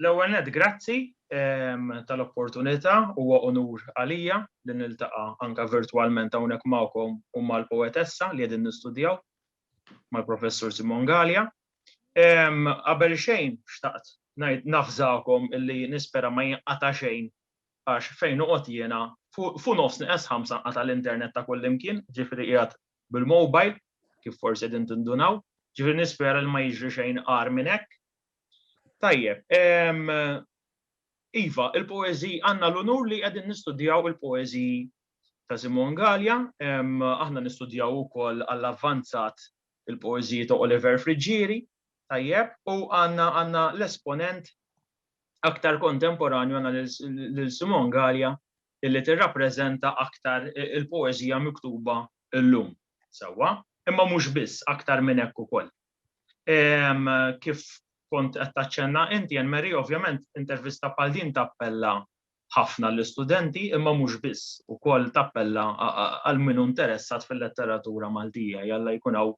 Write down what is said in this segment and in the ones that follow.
L-ewwel nett grazzi tal-opportunità, huwa unur għalija li niltaqa' anke virtwalment hawnhekk magħkom u mal-poetessa li qegħdin nistudjaw mal-Professur Simon Galea. Qabel xejn xtaqt ngħid nafżakom illi nispera ma jinqata' xejn għax fejn noqgħod jiena fu nofs neqes ħamsa nqata' l-internet ta' kullimkien, ġifieri qiegħed bil-mobile, kif forsi qegħdin tindunaw, ġifieri nispera li ma jiġri xejn agħar minn hekk. Tajjeb, iva, il-poeżiji, għandna l-unur li qegħdin nistudjaw il-poeżiji ta' Simon Gallia, aħna nistudjaw ukoll għall-avvanzat il-poeżiji ta' Oliver Friggieri, tajjeb, u għandna l-esponent aktar kontemporanju għandna lil Simon Gallia illi tirrappreżenta aktar il-poeżija miktuba llum. Sewwa? Imma mhux biss, aktar minn hekk ukoll. Kif kont qed taċċenna inti, Anne Marie, ovvjament intervista bħal din tappella ħafna għall-istudenti, imma mhux biss, ukoll tappella għal min hu interessat fil-letteratura Maltija, jalla jkun hawn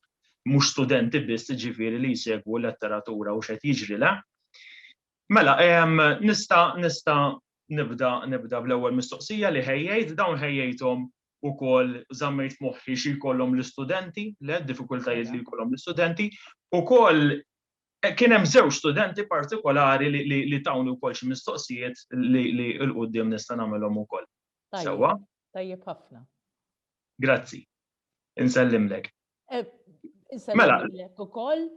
mhux studenti biss, jiġifieri li jsegwu l-letteratura u x'qed jiġri, le? Mela, nista' nista' nibda nibda bl-ewwel mistoqsija li ħejjejt, dawn ħejjejthom ukoll żammejt f'moħħi xi jkollhom l-istudenti, le diffikultajiet li jkollhom l-istudenti, ukoll kien hemm żewġ studenti partikolari li tawni wkoll xi mistoqsijiet li l quddiem nista' nagħmilhom ukoll. Sewwa? Tajjeb ħafna. Grazzi. Insellimlek. Eh, mela. U koll,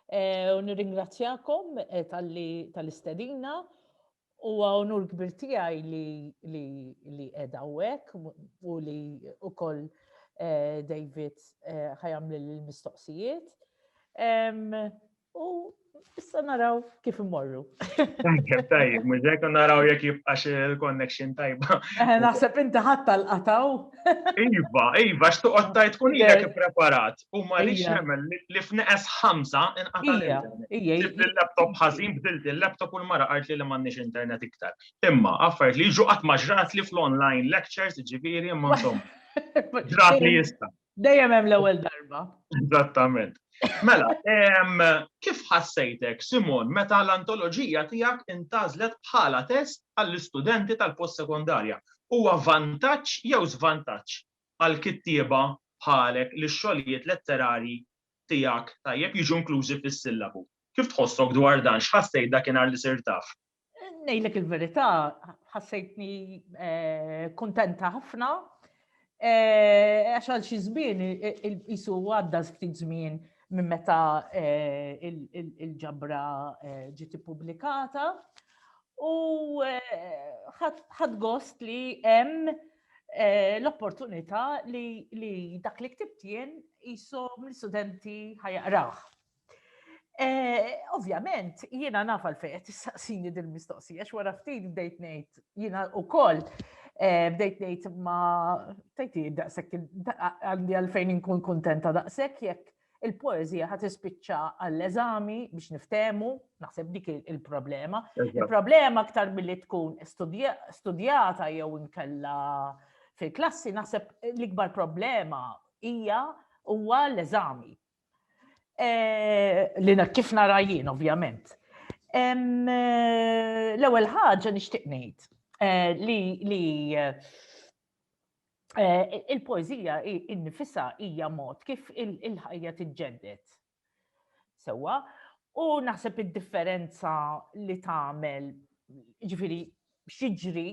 eh, u nirringrazzjakom eh, tal-istedina u għonur kbir tijaj li edha u u li u koll David ħajam l-mistoqsijiet. U issa naraw kif immorru. Tajjeb, tajjeb, mużek naraw jek jibqax il-connection tajba. Eh, naħseb inti ħadd tal-qataw. Iva, iva, xtuqot tajt kun jek preparat. U ma li xemel li f'neqes ħamsa inqata l laptop ħażin bdilt il-laptop u l-mara għart li m'għandniex internet iktar. Imma, affarijiet li ġuqat maġrat li fl-online lectures ġifieri imma insomma. Ġrat li jista'. Dejjem hemm l-ewwel darba. Eżattament. Mela, kif ħassejtek, Simon, meta l-antoloġija tiegħek intażlet bħala test għall-istudenti tal-postsekondarja? Huwa vantaġġ jew żvantaġġ għal kittieba bħalek li x-xogħlijiet letterarji tiegħek tajjeb jiġu inklużi fis-sillabu? Kif tħossok dwar dan? X'ħassejt dakinhar li sirt taf? Nejlek il-verità, ħassejtni eh, kontenta ħafna, eh, għax għal xi żmien isu għadda ftit żmien minn meta eh, il-ġabra ġiet ippubblikata u ħadd gost li hemm l-opportunità li dak li ktibt jien isom l-istudenti ħajaqrah. Eh, ovvjament, jiena naf għalfejn qed tistaqsini dil-mistoqsija x'wara ftit bdejt ngħid jiena wkoll eh, bdejt ngħid ma tajti daqshekk għandi għalfejn inkun kuntenta daqshekk jekk il-poezija ħat ispiċċa għall-eżami biex niftemu, naħseb dik il-problema. Il-problema aktar billi tkun studjata jew inkella fil-klassi, naħseb l-ikbar problema hija huwa l-eżami Li kif narajjien, ovvjament. L-ewwel ħaġa nixtieq ngħid eh, li eh, eh, il-poeżija innifisha hija mod kif il-ħajja tiġġedded. Sewwa, u naħseb id-differenza li tagħmel ġifieri x'jiġri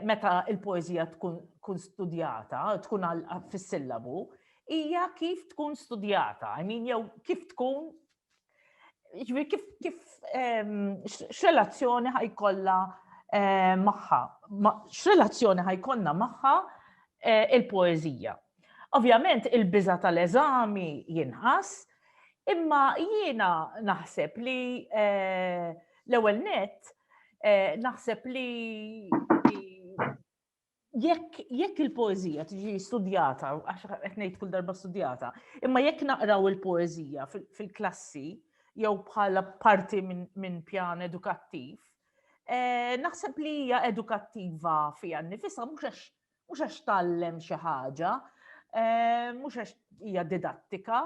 meta l-poeżija tkun studjata, tkun fis-sillabu, hija kif tkun studjata, I mean, jew kif tkun ġifieri kif kif x'relazzjoni ħajkollha magħha, x'relazzjoni ħajkollna magħha il-poeżija. Ovvjament il-biża tal-eżami jinħass, imma jiena naħseb li l-ewwel nett Eh, naħseb li jekk jekk il-poezija tiġi studjata, għax qed ngħid kull darba studjata, imma jekk naqraw il-poezija fil-klassi jew bħala parti minn pjan edukattiv, eh, naħseb li hija edukattiva fiha nifisha mhux għax mhux għax tgħallem xi ħaġa, eh, mhux għax hija didattika,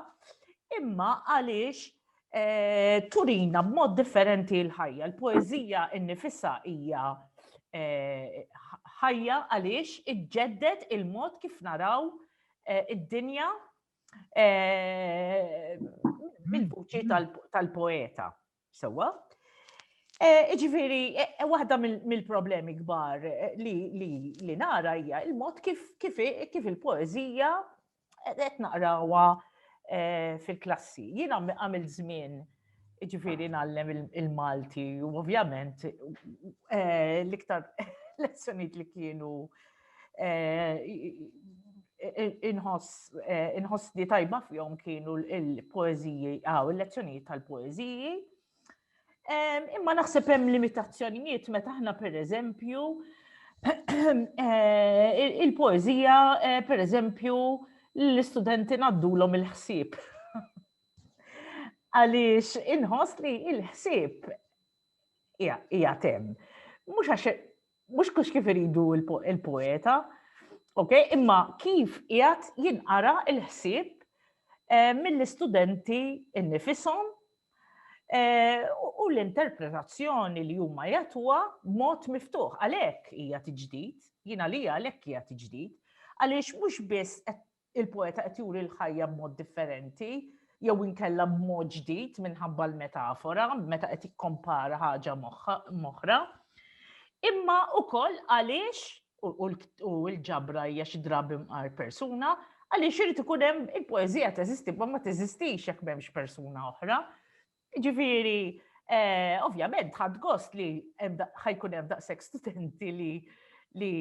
imma għaliex eh, turina b'mod differenti l-ħajja. Il-poeżija innifisha hija eh, ħajja għaliex iġġedded il-mod kif naraw id-dinja mill-vuċi tal-poeta. Sewwa. Iġifieri, waħda mill-problemi kbar li nara hija il-mod kif il-poeżija qed naqrawha fil-klassi. Jiena għamilt żmien iġifieri ngħallem il-Malti u ovvjament l-iktar lezzjonijiet li kienu Inħoss li tajba fihom kienu l-poeziji, għaw, il-lezzjonijiet tal-poeziji. Imma naħseb hemm limitazzjonijiet meta aħna per eżempju il-poezija per eżempju l-istudenti naddulhom il-ħsieb. Għaliex inħoss li il-ħsieb hija tem. Mhux għax mhux kux kif iridu il-poeta, ok, imma kif qiegħed jinqara il-ħsieb eh, mill-istudenti nnifisom eh, u l-interpretazzjoni li huma jatwa b'mod miftuħ. Għalhekk hija tiġdid, jiena li għalhekk hija tiġdid, għaliex mhux biss qed Il-poeta qed juri l-ħajja b'mod differenti jew inkella b'mod ġdid minħabba l-metafora meta qed jikkompara ħaġa m'oħra. Imma ukoll għaliex u l-ġabra hija xi drabi mqar persuna, għaliex irid ikun hemm il-poeżija teżisti ma ma teżistix jekk m'hemmx persuna oħra. Ġifieri, eh, ovvjament ħadd gost li ħajkun hemm daqshekk studenti li li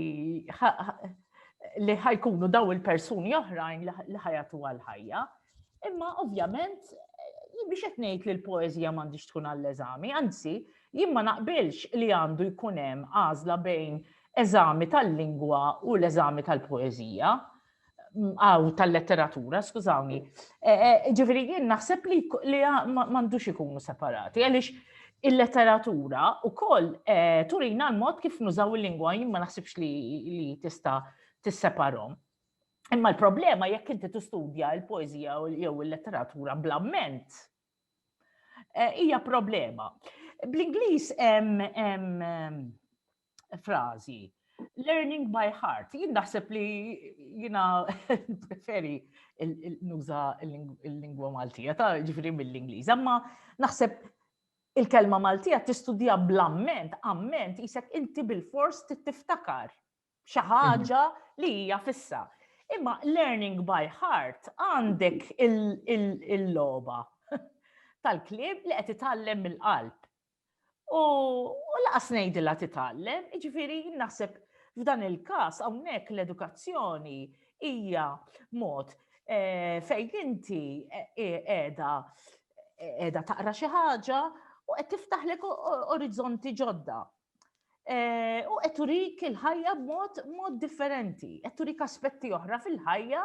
li ħajkunu daw il-persuni oħrajn li ħajatu għal-ħajja. Imma ovvjament eh, biex qed ngħid li l-poeżija m'għandix tkun għall-eżami, anzi, jien ma naqbilx li għandu jkun hemm għażla bejn eżami tal-lingwa u l-eżami tal-poeżija. għaw tal-letteratura, skużawni. E, e, ġifiri, jien naħseb li li mandux ikunu separati, għalix il-letteratura u koll e, turina l-mod kif nużaw il-lingwa, jien ma naħsibx li tista tisseparom. Imma l-problema jekk inti tistudja il-poezija jew il-letteratura blamment, hija problema. Bl-Inglis hemm frażi. Learning by heart. Jien naħseb li jina preferi nuża il-lingwa Maltija, ta' ġifri mill-Ingliż. Amma naħseb il-kelma Maltija tistudja bl-amment, amment jisek inti bil-fors tiftakar xi ħaġa li hija fissa. Imma learning by heart għandek il-loba tal-klib li qed itallem mill-qalb. U laqas ngħidilha titgħallem, jiġifieri naħseb f'dan il-każ hawnhekk l-edukazzjoni hija mod eh, fejn inti eh, eh, qiegħda qiegħda taqra xi ħaġa u qed tiftaħlek orizzonti ġodda. Eh, u qed turik il-ħajja b'mod mod differenti, qed turik aspetti oħra fil-ħajja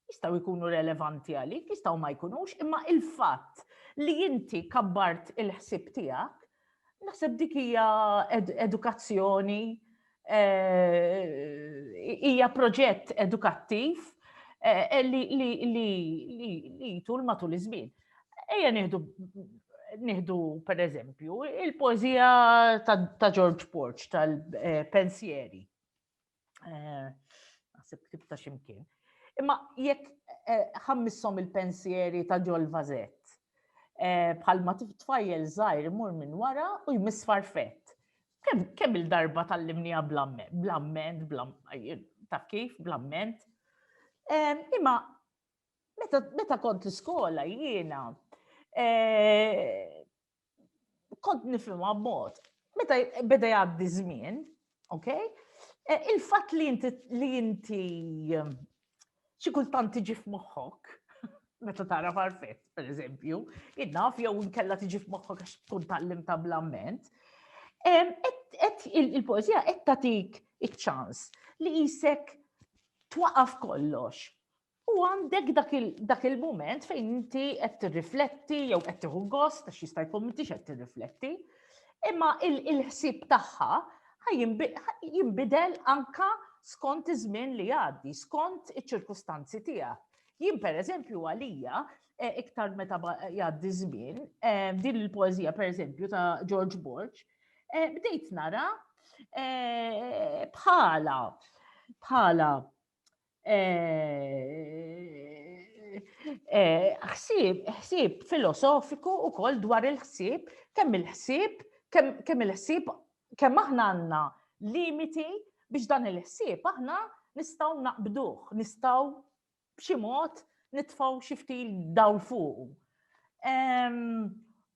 jistgħu jkunu relevanti għalik, jistgħu ma jkunux, imma il-fatt li inti kabbart il-ħsieb tiegħek, naħseb dik hija edukazzjoni, eh, hija proġett edukattiv eh, li tul matul iż-żmien. Ejja nieħdu nieħdu per eżempju il-poezija ta' George Porch tal-pensieri. Eh, Eh, naħseb ktib ta' ximkien. Imma jekk eh, ħammissom il-pensieri ta' ġol vazett, eh, bħalma tfajjel zaħir mur minn wara u jmiss farfett. Kemm il-darba tal-limnija blamment, ta' kif, blamment. Imma meta kont l-iskola jiena kont nifhimha b'mod. Meta beda jgħaddi żmien, ok? E, il-fatt li inti li inti ehm, xi kultant tiġi f'moħħok, meta tara farfet, per eżempju, innaf jew nkella tiġi f'moħħok għax tkun tallim ta' blamment. Ehm, il-poezija qed tagħtik iċ-ċans li jisek twaqaf kollox U għandek dak il-moment fejn inti qed tirrifletti jew qed tieħu gost għax jista' jkun m'intix qed tirrifletti, imma il-ħsieb tagħha jinbidel anka skont iż-żmien li għaddi, skont iċ-ċirkustanzi tiegħek. Jien pereżempju għalija e, iktar meta jgħaddi żmien, e, din il-poeżija pereżempju ta' George Borg, e, bdejt nara bħala bħala ħsieb, ħsieb filosofiku u koll dwar il-ħsieb, kemm il-ħsieb, kemm il-ħsieb, kemm aħna għanna limiti biex dan il-ħsieb aħna nistaw naqbduħ, nistaw b'xi mod nitfaw xifti dawl fuq.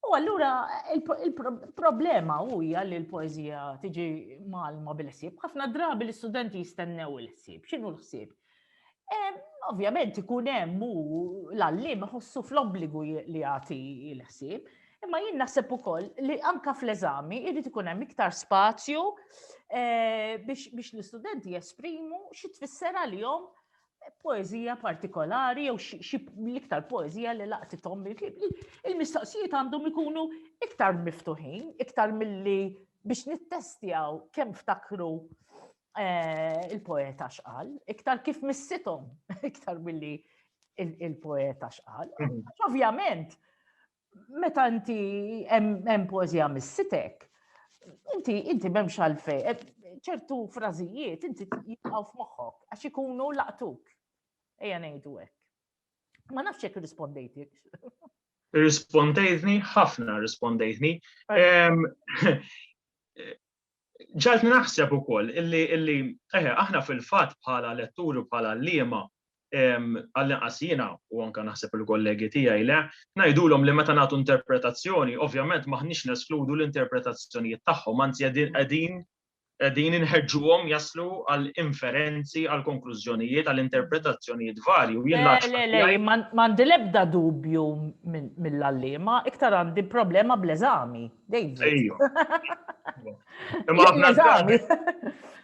U allura il-problema huja li l-poezija tiġi malma bil-ħsieb. Ħafna drabi l-istudenti jistennew il-ħsieb. X'inhu l-ħsieb? Ovvjament ikun hemm u l-għallim ħossu fl-obbligu li jagħti l-ħsieb, imma jien naħseb ukoll li anka fl-eżami jrid ikun hemm iktar spazju eh, biex l-istudenti jesprimu xi tfisser għalihom poeżija partikolari jew l-iktar poeżija li laqtithom il-mistoqsijiet għandhom ikunu iktar miftuħin, iktar milli biex nittestjaw kemm ftakru eh, il-poeta xqal, iktar kif missithom, iktar milli il-poeta xqal. Mhm. Ovvjament, meta inti hemm poeżija missitek, inti inti m'hemmx għalfej, eh, ċertu frażijiet inti jibqgħu f'moħħok għax ikunu laqtuk. Ejja ngħidu hekk. Ma nafx jekk irrispondejtik. Irrispondejtni ħafna irrispondejtni. ġaltni naħseb ukoll illi illi eħe aħna fil-fatt bħala letturi u bħala għalliema għall-inqas jiena u anke naħseb il-kollegi tiegħi le, ngħidulhom li meta nagħtu interpretazzjoni, ovvjament maħniex neskludu l-interpretazzjonijiet tagħhom, anzi qegħdin qegħdin inħeġġuhom jaslu għal inferenzi, għal konklużjonijiet, għal interpretazzjonijiet varji. Le, le, le, m'għandi l-ebda dubju mill-allima, iktar għandi problema bl-eżami. David.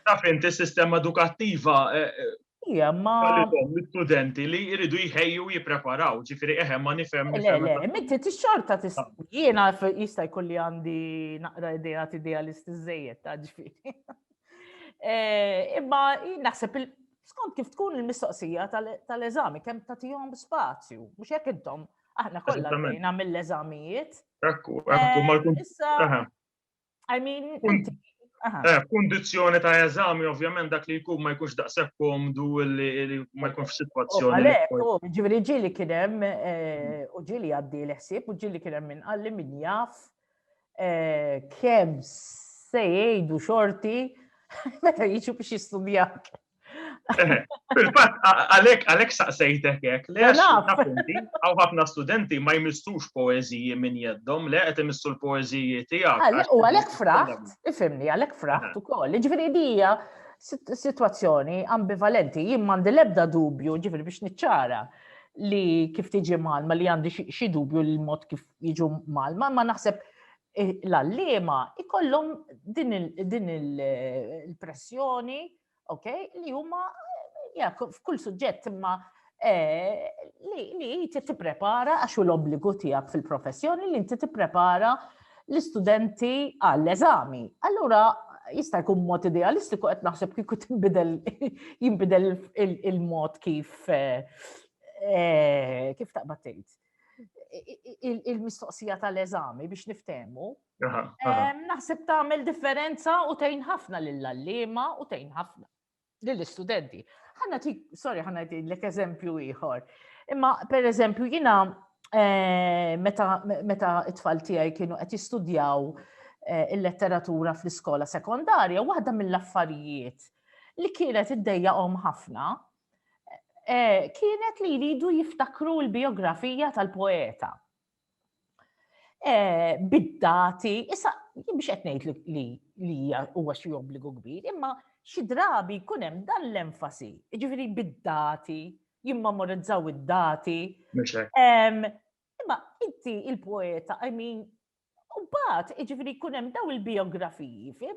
Taf inti sistema edukattiva eh, eh, Ija, ma. L-studenti li jridu jħejju jipreparaw, ġifiri eħe ma nifem. Le, le, mitti t-xorta t ah. Jena jista jkolli għandi naqra idea t idealist iż-żejjed ta' ġifiri. Eh, imma naħseb skont kif tkun il-mistoqsija tal-eżami, kem ta' tijom spazju, mux jek intom Aħna kollha għaddejna mill-eżamijiet. Ekku, ekku, eh, ma jkun. Issa, I mean, Eh, Kondizjoni ta' eżami, ovvjament, dak li jkun ma jkunx daqshekk komdu li ma jkunx f'sitwazzjoni. Għalhekk, oh, ġifieri ġieli kien hemm eh, u ġieli għaddi l-ħsieb u ġieli kien hemm min qalli min jaf eh, kemm se jgħidu xorti meta jiġu biex jistudjak. Fil-fatt, għalek, għalek saqsejtek hekk, le appunti, għaw ħafna studenti ma jmissux poeziji minn jeddom, le qed imissu l-poeziji tiegħek. U għalek fraħt, ifimni, għalek fraħt ukoll. Ġifieri dija situazzjoni ambivalenti, jien m'għandi l-ebda dubju, ġifieri biex niċċara li kif tiġi malma li għandi xi dubju l-mod kif jiġu malma, ma naħseb eh, l-allima ikollhom din il-pressjoni ok, li huma f'kull suġġett imma eh, li inti tipprepara għax u l-obbligu tiegħek fil-professjoni li inti tipprepara l-istudenti għall-eżami. Allura jista' jkun mod idealistiku qed naħseb kieku tinbidel jinbidel il-mod kif eh, eh, kif taqbad tgħid. Il-mistoqsija tal-eżami biex niftehmu Naħseb tagħmel differenza u tgħin ħafna lill-allima u tgħin ħafna lill-istudenti. Ħanna ti, sorry, ħanna ti l eżempju ieħor. Imma per eżempju jina eh, meta it-tfal tiegħi kienu qed jistudjaw eh, il-letteratura fl-iskola sekondarja, waħda mill-affarijiet li kienet iddejjaqhom ħafna eh, kienet li jridu jiftakru l-biografija tal-poeta. Eh, bid-dati, issa jien biex qed ngħid li li huwa xi obbligu kbir, imma xi drabi jkun hemm dan l-enfasi, jiġifieri bid-dati, jimmemorizzaw id-dati. Imma inti il-poeta, I mean, u bat, jiġifieri jkun hemm daw il-biografiji, li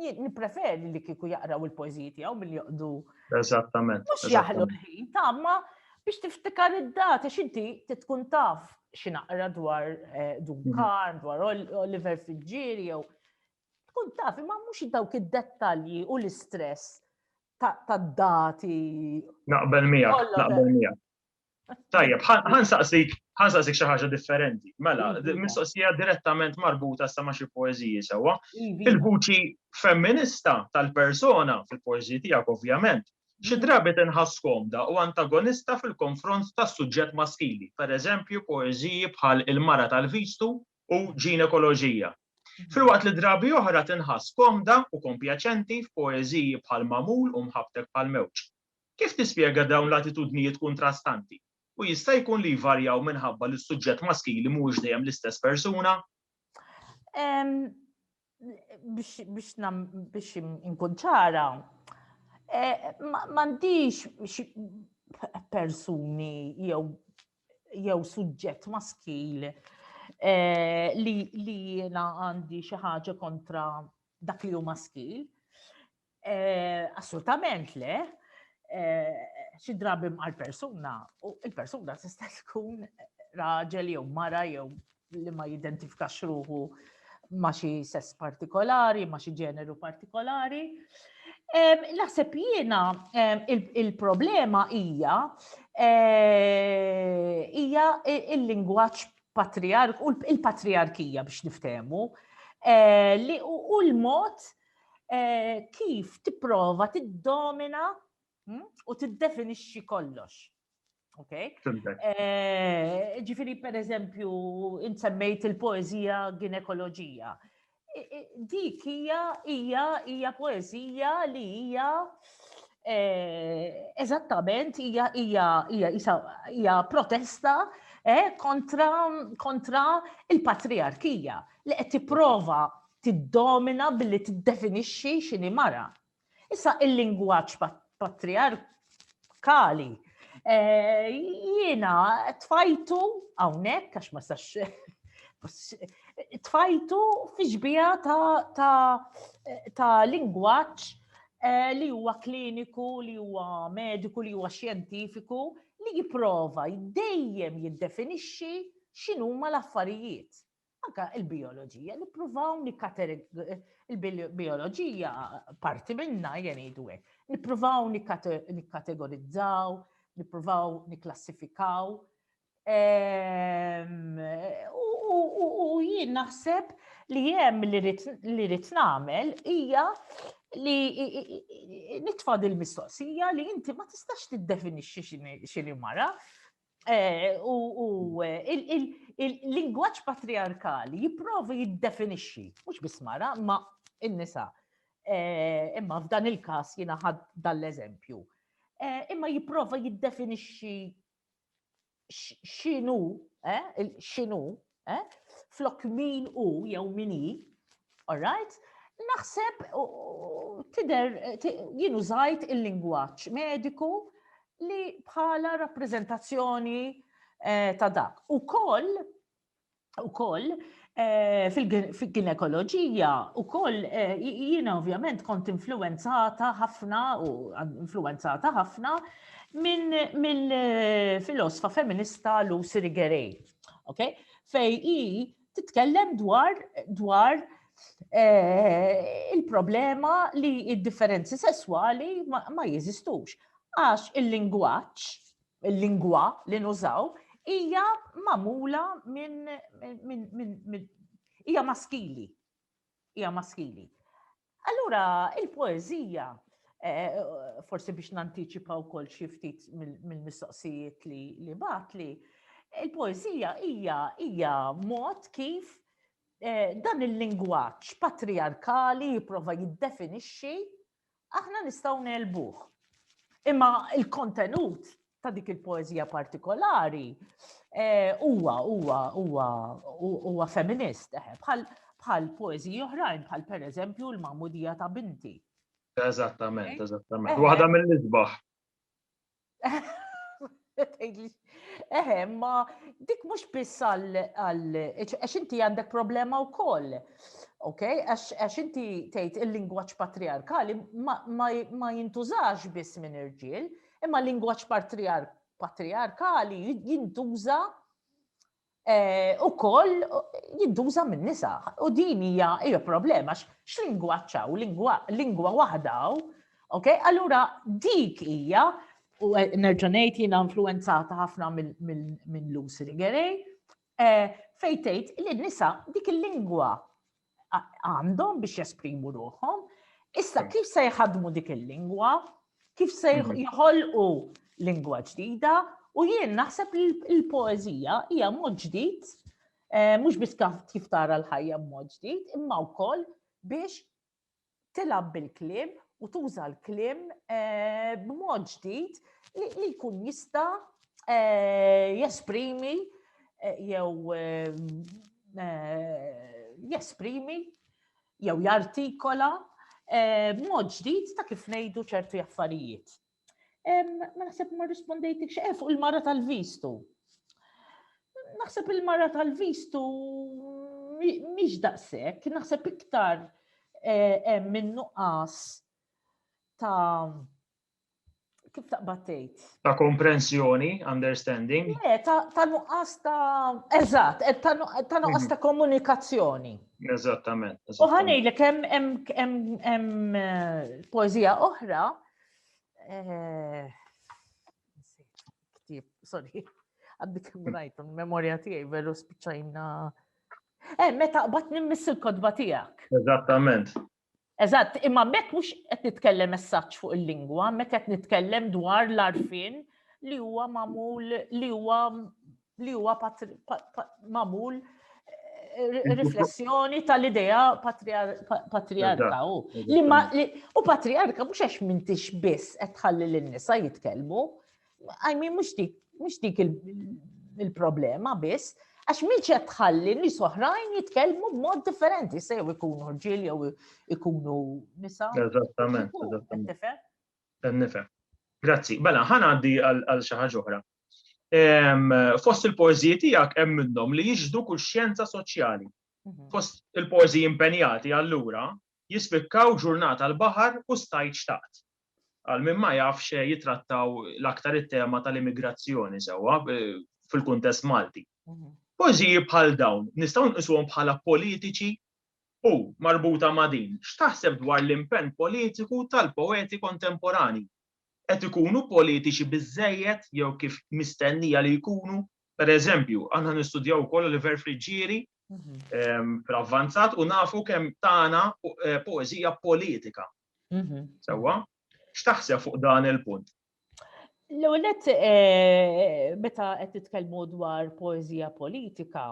Nipreferi li kiku jaqraw il-poeziji tiegħu mill joqdu. Eżattament. Mhux jaħlu l-ħin, tamma biex tiftikar id-data x'inti tkun taf x'inaqra dwar eh, Duncan, mhm. dwar Oliver Fitzgerald jew tkun taf imma mhux dawk id-dettalji u l-istress ta' dati. Naqbel miegħek, naqbel miegħek. Tajjeb, ħansaqsik, ħansaqsik xi ħaġa differenti. Mela, iva. mistoqsija direttament marbuta sa ma' xi poeżiji sewwa. Iva. Il-vuċi femminista tal-persona fil-poeżiji tiegħek ovvjament, xi iva. drabi tinħass komda u antagonista fil-konfront tas-suġġett maskili, pereżempju poeżiji bħal Il-Mara tal-Vistu u Ġinekoloġija. Filwaqt li drabi oħra tinħass komda u kompjaċenti f'poeżiji bħal Mamul u Mħabbtek bħal Mewġ. Kif tispjega dawn l-attitudnijiet kuntrastanti, u jista' jkun li jvarjaw minħabba li s-suġġett maskili mhuwiex dejjem l-istess persuna? Biex inkun ċara, m'għandix persuni jew jew suġġett maskil eh, li jiena għandi xi ħaġa kontra dak li hu maskil. Assolutament le, xi drabi mqar persuna u il-persuna tista' tkun raġel jew mara jew li ma jidentifikax ruħu ma xi sess partikolari, ma xi ġeneru partikolari. Naħseb jiena il-problema hija hija il-lingwaġġ patriark u il-patriarkija biex niftehmu li u l-mod kif tipprova tiddomina hm, u tiddefinixxi kollox. Ok? Eh, ġifiri, per eżempju, insemmejt il-poezija ginekoloġija. Dik hija hija hija poezija li hija eh, eżattament hija hija hija protesta eh, kontra kontra il-patriarkija li qed tipprova tiddomina billi tiddefinixxi x'inhi mara. Issa il-lingwaġġ patriarkali eh, jiena tfajtu hawnhekk għax ma sax tfajtu fiġbija ta' lingwaġġ eh, li huwa kliniku, li huwa mediku, li huwa xjentifiku, li jipprova dejjem jiddefinixxi x'inhuma l-affarijiet. anka il-bioloġija, nippruvaw il-bioloġija parti minna jenidu għek. Nippruvaw nikkategorizzaw, nippruvaw niklassifikaw. Ehm, u jien naħseb li jem li rrit namel hija li nitfad il-mistoqsija li inti ma tistax tiddefinixxi xini mara, Eh, u il-lingwaġġ patriarkali jipprova jiddefinixxi, mhux biss mara, ma in-nisa. Eh, imma f'dan il-każ jiena ħadd dal-eżempju. Eh, imma jipprova jiddefinixxi x'inhu, x'inhu eh? flok min u jew min hi, all right? naħseb tider jienu zajt il-lingwaċ mediku li bħala rappresentazzjoni eh, ta' dak. U koll, u koll, eh, fil-ginekoloġija u koll eh, jiena ovvjament kont influenzata ħafna u influenzata ħafna minn mill-filosfa feminista Lucy Rigerei. Okay? Fej i titkellem dwar dwar eh, il-problema li id-differenzi sesswali ma, ma jeżistux. Għax il-lingwaċ, il-lingwa li nużaw, hija mamula minn min, min, min, hija maskili. Hija maskili. Allura, il-poeżija, forsi biex nantiċipa wkoll xi ftit mill-mistoqsijiet li batli, il-poeżija hija hija mod kif eh, dan il-lingwaġġ patriarkali jipprova jiddefinixxi aħna nistgħu nelbuh. Imma il-kontenut ta' dik il-poezija partikolari eh, huwa huwa huwa huwa feminist eh, bħal bħal poeziji oħrajn bħal pereżempju l-Mamudija ta' binti. Eżattament, eżattament. Eh, Waħda mill-isbaħ. Eħe, ma dik mhux biss għal għax inti għandek problema wkoll. Ok, għax inti tgħid il-lingwaġġ patriarkali ma jintużax biss minn irġiel, Imma l-lingwaġġ patriarkali jintuża eh, ukoll jintuża min-nisa. U din hija hija problema x'lingwaġġ hawn, lingwa waħda hawn. Ok, allura dik hija u eh, nerġa' ngħid jiena influenzata ħafna minn Lucy Rigerej, eh, fejn tgħid li nisa dik il-lingwa għandhom biex jesprimu ruħhom. Issa kif se jħadmu dik il-lingwa, kif se mhm. jħolqu lingwa ġdida, u jien naħseb li l-poezija hija mod ġdid, eh, mhux biss kif tara l-ħajja mod ġdid, imma wkoll biex tilgħab bil-kliem u tuża l-kliem eh, b'mod ġdid li jkun jista eh, jesprimi eh, jew jesprimi jew jartikola b'mod ġdid ta' kif ngħidu ċertu affarijiet. Ma naħseb ma rispondejtik xeqe eh, fuq il-mara tal-vistu. Naħseb il-mara tal-vistu miex daqsek, naħseb iktar eh, minnu qas ta' kif taqbattejt? Ta' komprensjoni, understanding? Le, ta' nuqqas ta' eżatt, eh, ta' nuqqas mhm. ta' komunikazzjoni. Eżattament. U ħanejlek hemm eh, poezija oħra Eh, Ktib, sorry, għaddi kem rajtu, memorja tijaj, veru spiċajna. Eh, meta qbat nimmiss il-kodba tijak. Eżattament. Eżatt, imma mek mux qed nitkellem messaġġ fuq il-lingwa, mek qed nitkellem dwar l-arfin li huwa mamul li huwa li huwa magħmul eh, riflessjoni tal-idea patriarka u u patriarka mhux għax mintix biss qed tħalli lin-nisa jitkellmu. I mean mhux dik mhux dik il-problema biss, għax minn qed tħalli nies oħrajn jitkellmu b'mod differenti se jew ikunu rġiel jew ikunu nisa. Eżattament, eżattament. Nifhem. Grazzi. Bella, ħanaddi għal xi ħaġa oħra. Fost il-poeżiji tiegħek hemm minnhom li jixdu kull xjenza soċjali. Mhm. Fost il-poeżiji impenjati allura jispikkaw ġurnata l-baħar u stajt xtaqt. Għal min ma jafx eh, jitrattaw l-aktar it-tema tal-immigrazzjoni sewwa eh, fil-kuntest Malti. Mhm. Pożiji bħal dawn nistgħu nqisuhom bħala politiċi u marbuta ma' din. X'taħseb dwar l-impenn politiku tal-poeti kontemporani? qed ikunu politiċi biżżejjed jew kif mistennija li jkunu. Per eżempju, aħna nistudjaw ukoll Oliver Friggieri fl-avvanzat u nafu kemm tagħna poeżija politika. Sewwa? X'taħseb fuq dan il-punt? L-għonet, eh, meta qed titkellmu dwar poezija politika,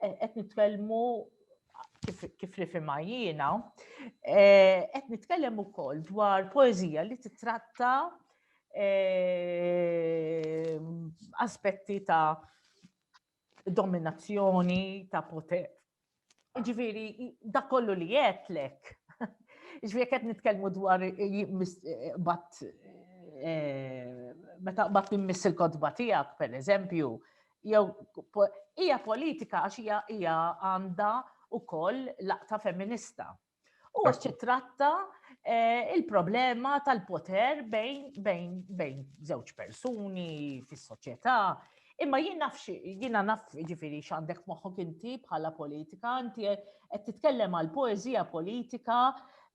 Eh, qed nitkellmu kif rifima jiena, eh, qed nitkellem ukoll dwar poezija li titratta eh, aspetti ta' dominazzjoni, ta' poter. Ġifiri, da kollu li jetlek. Ġifiri, qed nitkellmu dwar bat meta bat nimmiss il-kodba tiegħek, per eżempju, jew hija politika għax hija hija għandha ukoll laqta femminista. U għax titratta eh, il-problema tal-poter bejn bejn bejn żewġ persuni fis-soċjetà. Imma jien naf jiena naf ġifieri x'għandek moħħok inti bħala politika, inti qed titkellem għal poeżija politika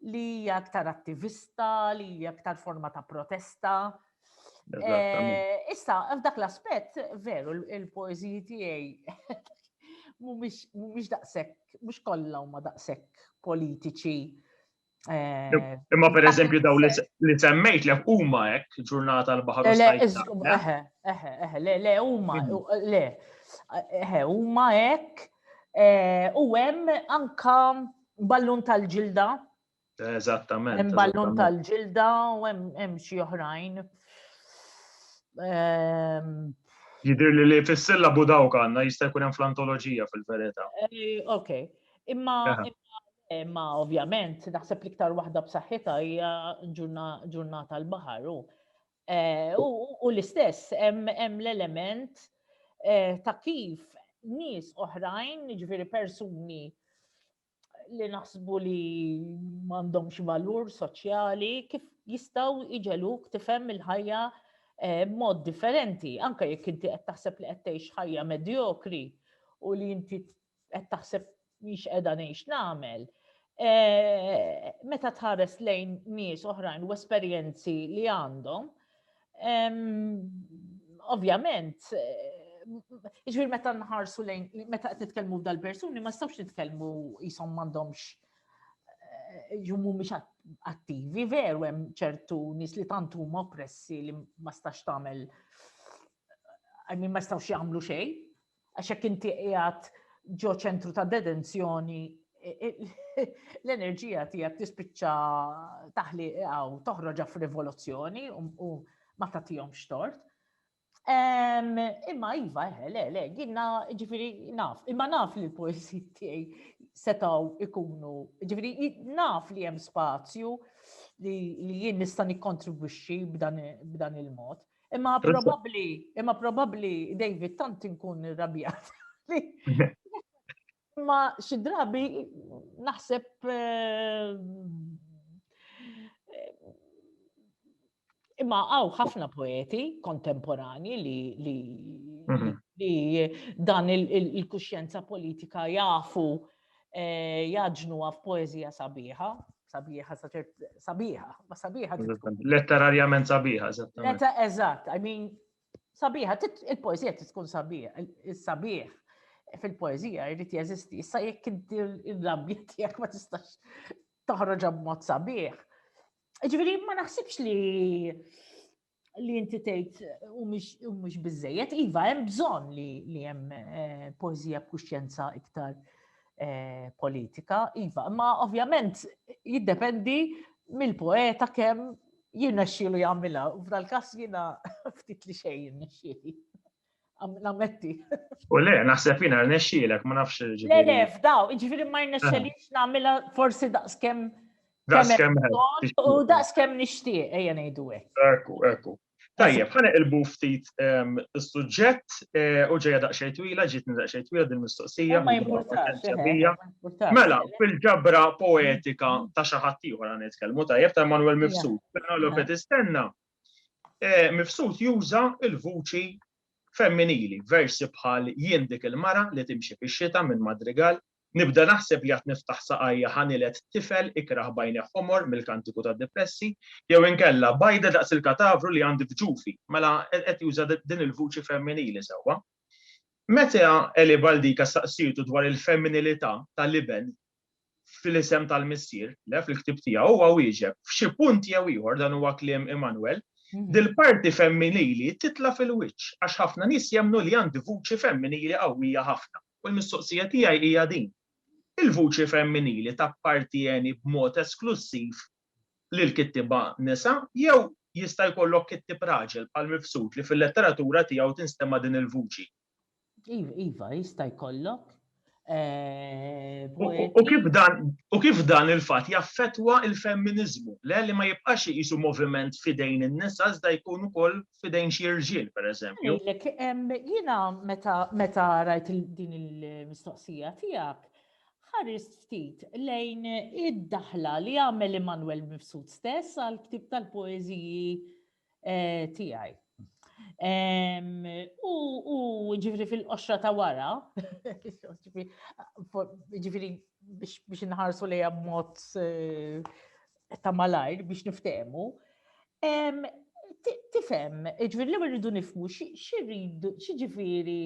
li hija aktar attivista, li hija aktar forma ta' protesta, Eh, issa, f'dak l-aspett, veru, il-poeziji tiegħi mhumiex daqshekk, mhux kollha huma daqshekk politiċi. Eh, Imma per eżempju daw li semmejt lek huma hekk ġurnata l-baħar. Le, eħe, eħe, eħe, le, le, huma, mhm. le, eħe, huma hekk. Eh, u hemm anka ballun tal-ġilda Eżattament. Hemm ballun tal-ġilda u hemm xi oħrajn. Ehm, Jidir li li fissilla bu dawk għanna jista' jkun hemm fl-antoloġija fil-verità. Eh, ok, imma imma ovvjament naħseb li iktar waħda b'saħħitha hija ġurnata l-baħar u eh, u l-istess hemm l-element eh, ta' kif nies oħrajn, jiġifieri persuni li naħsbu li m'għandhomx valur soċjali kif jistgħu iġeluk tifhem il-ħajja eh, mod differenti, anke jekk inti qed taħseb li qed tgħix ħajja medjokri u li inti qed taħseb miex qiegħda ngħix nagħmel. Eh, meta tħares lejn nies oħrajn u esperjenzi li għandhom, Ovvjament, ġvir meta nħarsu lejn, meta qed nitkellmu dal-persuni, ma stawx nitkellmu jisom m'għandhomx eh, jummu mhux attivi, veru hemm ċertu nies li tant huma oppressi li ma stax tagħmel I mean ma stawx jagħmlu xejn. Għax jekk inti qiegħed ġo ċentru ta' detenzjoni, l-enerġija tiegħek tispiċċa taħli għaw toħroġa f'rivoluzzjoni u ma tagħtihom xtort. Imma iva, eh, le, le, ginna ġifiri naf, imma naf li l-poesi tiegħi setaw ikunu, ġifiri naf li hemm spazju li jien nista' nikkontribwixxi b'dan il-mod. Imma probabbli, imma probabbli David tant inkun irrabjat. Imma xi drabi naħseb eh, Imma għaw ħafna poeti kontemporani li, li, mhm. li dan il-kuxjenza politika jafu eh, jaġnuha f'poeżija sabiħa, sabiħa, sabiħa, ma sabiħa. Letterarjament sabiħa, eżattament. Eżatt, I mean, sabiħa, il-poezija tkun sabiħa, il-sabiħ fil-poezija jrid jeżisti. Issa jekk inti l-rabbi tiegħek ma tistax toħroġ b'mod sabiħ. Ġifieri ma naħsibx li li inti tgħid u mhux biżejjed, iva hemm bżonn li hemm eh, poeżija b'kuxjenza iktar eh, politika, iva, ma ovvjament jiddependi mill-poeta kemm jirnexxielu jagħmilha, u f'dal-każ jiena ftit li xejn jirnexxieli. Nammetti. U le, naħseb jina rnexxielek, ma nafx ġifieri. Le, le, f'daw, ġifieri ma rnexxelix nagħmilha forsi daqskemm. Daqskemm. U daqskemm nixtieq, ejja ngħidu hekk. Ekku, ekku. Tajjeb, ħana il ftit ehm, suġġett eh, u ġeja daqxej twila, ġitni daqxej twila din mistoqsija. Ma jimportax. Eh, mela, fil-ġabra poetika ta' xaħat ieħor għan nitkellmu tajjeb ta' Manuel Mifsud. Mela, l-opet istenna. Mifsud juża l-vuċi femminili f'versi bħal Jien dik il-mara li timxi fix-xita minn Madrigal, Nibda naħseb li għad niftaħ saqajja ħa niled tifel ikrah b'għajnejh ħomor mill-Kantiku tad-Dipressi, jew inkella Bajda daqs il-katavru li għandi f'ġufi. Mela qed juża din il-vuċi femminili sewwa. Meta Eli Baldica staqsietu dwar il-femminilità tal-iben fl-isem tal-Missier, le fil-ktieb tiegħu huwa wieġeb f'xi punt jew ieħor dan huwa kliem Immanuel, mhm. dil-parti femminili titla fil-wiċċ għax ħafna nies jemnu li għandi vuċi femminili qawwija ħafna. U l-mistoqsija tiegħi hija din. Il-vuċi femminili tappartieni b'mod esklussiv lil kittiba nisa jew jista' jkollok kittib raġel bħal mifsud li fil-letteratura tiegħu tinstema' din il-vuċi. Iva, jista' jkollok. Eh, u kif dan, u kif dan il-fatt jaffettwa il-femminiżmu, le li ma jibqax jisu moviment fidejn in-nisa iżda jkun ukoll fidejn xi rġiel, pereżempju. Jiena meta meta rajt din il-mistoqsija tiegħek, ħarist ftit lejn id-daħla li għamel Immanuel Mifsud stess għal ktib tal-poeżiji Tiegħi. U ġifri fil-qoxra ta' wara, ġifri biex nħarsu li mod eh, ta' malajr biex niftemu, tifem, ġifri li rridu nifmu xirridu, xġifiri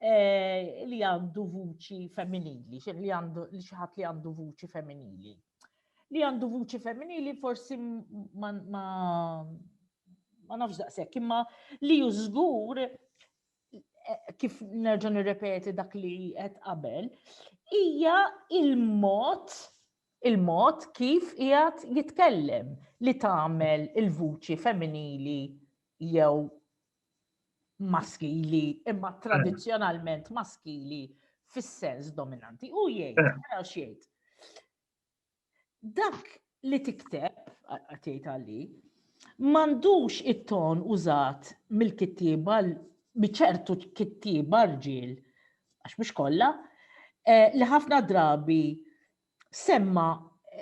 eh, li għandu vuċi femminili, li għandu li xaħat li għandu vuċi femminili. Li għandu vuċi femminili forsi ma ma nafx daqshekk, imma li hu żgur eh, kif nerġa' nirrepeti dak li qed qabel, hija il-mod il-mod kif qiegħed jitkellem li tagħmel il-vuċi femminili jew maskili, imma eh. tradizzjonalment maskili fis-sens dominanti. U jgħid, eh. naraw x'jgħid. Dak li tikteb, għatjajt għalli, mandux it-ton użat mill-kittiba, miċertu kittiba rġil, għax mux kolla, eh, li ħafna drabi semma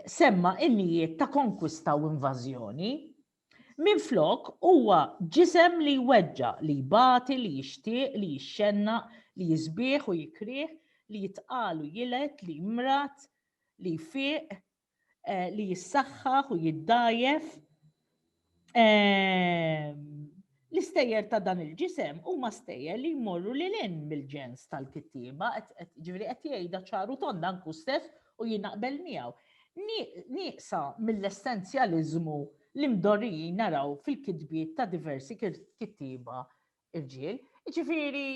semma innijiet ta' konkwista u invażjoni, Minflok, huwa ġisem li jweġġa', li jbati, li jixtieq, li jixxennaq, li jisbih u jikrih, li jitqal u jilgħed, li jmrad, li jfiq, li jissaħħaħ u jiddgħajjef. L-istejjer ta' dan il-ġisem huma stejjer li jmorru lil hinn mill-ġens tal-kittieba, ġifieri qed jgħidha ċar u tond anke hu stess u jien naqbel miegħu, nieqsa mill-essenzjaliżmu li mdorrijin naraw fil-kitbiet ta' diversi kittieba rġiel. Jiġifieri,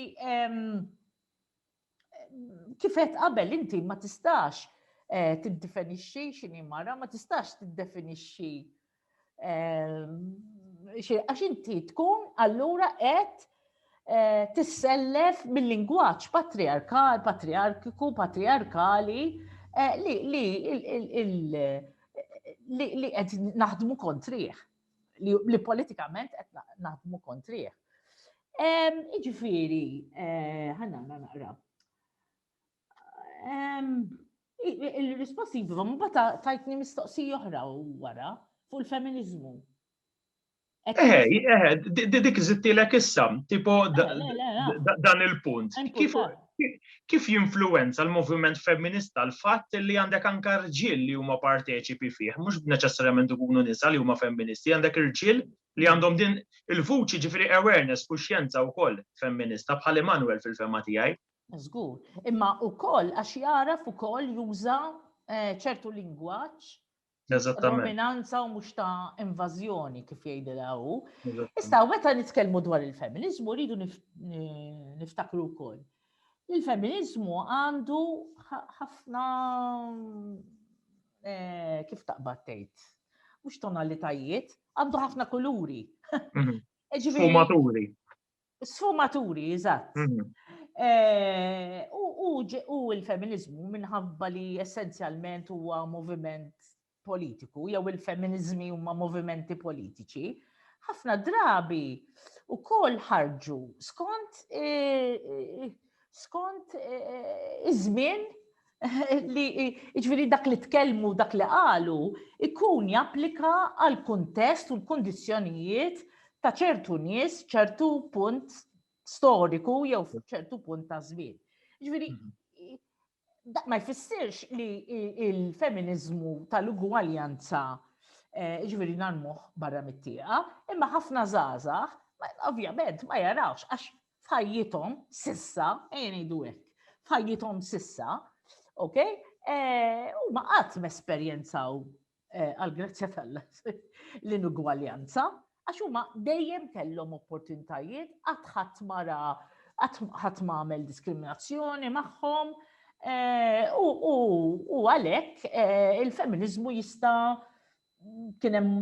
kifet qabel inti ma tistax eh, tiddefinixxi x'inhi mara, ma tistax tiddefinixxi ehm, għax inti tkun allura qed eh, tissellef mill-lingwaġġ patriarkal, patriarkiku, patriarkali eh, li li li qed naħdmu kontrih. li politikament qed naħdmu kontrih. Iġifieri, eh, ħanna naqra. Il-risposti jibiva, ma bata tajtni mistoqsi oħra wara fuq il-feminizmu. Eħe, eħe, dik zittilek issa, tipo dan il-punt. Kif jinfluwenza l-moviment femminista l-fatt li għandek anke rġiel li huma parteċipi fih, mhux neċessarjament ikunu nisa li huma femministi, għandek irġiel li għandhom din il-vuċi, jiġifieri awareness, kuxjenza wkoll femminista bħal Emmanuel fil-fehma tiegħi. Żgur, imma wkoll għax jagħraf ukoll juża ċertu lingwaġġ dominanza u mhux ta' invażjoni kif jgħidilha hu. Issa meta nitkellmu dwar il-feminiżmu rridu niftakru wkoll. Il-feminiżmu għandu ħafna eh, kif taqbad tgħid, mhux tonalitajiet, għandu ħafna kuluri. Mhm. Sfumaturi. Sfumaturi, eżatt. Mhm. Eh, u il-feminizmu minħabba li essenzjalment huwa moviment politiku, jew il-feminizmi huma movimenti politiċi, ħafna drabi u kol ħarġu skont eh, eh, skont iż-żmien li jiġifieri dak li tkellmu, dak li qalu, ikun japplika għal kuntest u l-kundizzjonijiet ta' ċertu nies, ċertu punt storiku jew ċertu punt ta' żmien. Jiġifieri mhm. ma jfissirx li il-feminiżmu tal-ugwaljanza eh, ġviri narmuħ barra mit-tieqa, imma ħafna zazax, ovvjament ma jarawx, għax f'ħajjithom sissa, ejja ngħidu hekk, f'ħajjithom sissa, ok, eh, huma qatt mesperjenzaw eh, għal-grazzja tal-la l-inugwaljanza, għax huma dejjem kellhom opportunitajiet qatt ħadd mara ħadd għamel diskriminazzjoni magħhom eh, u għalhekk il-feminiżmu jista' kien hemm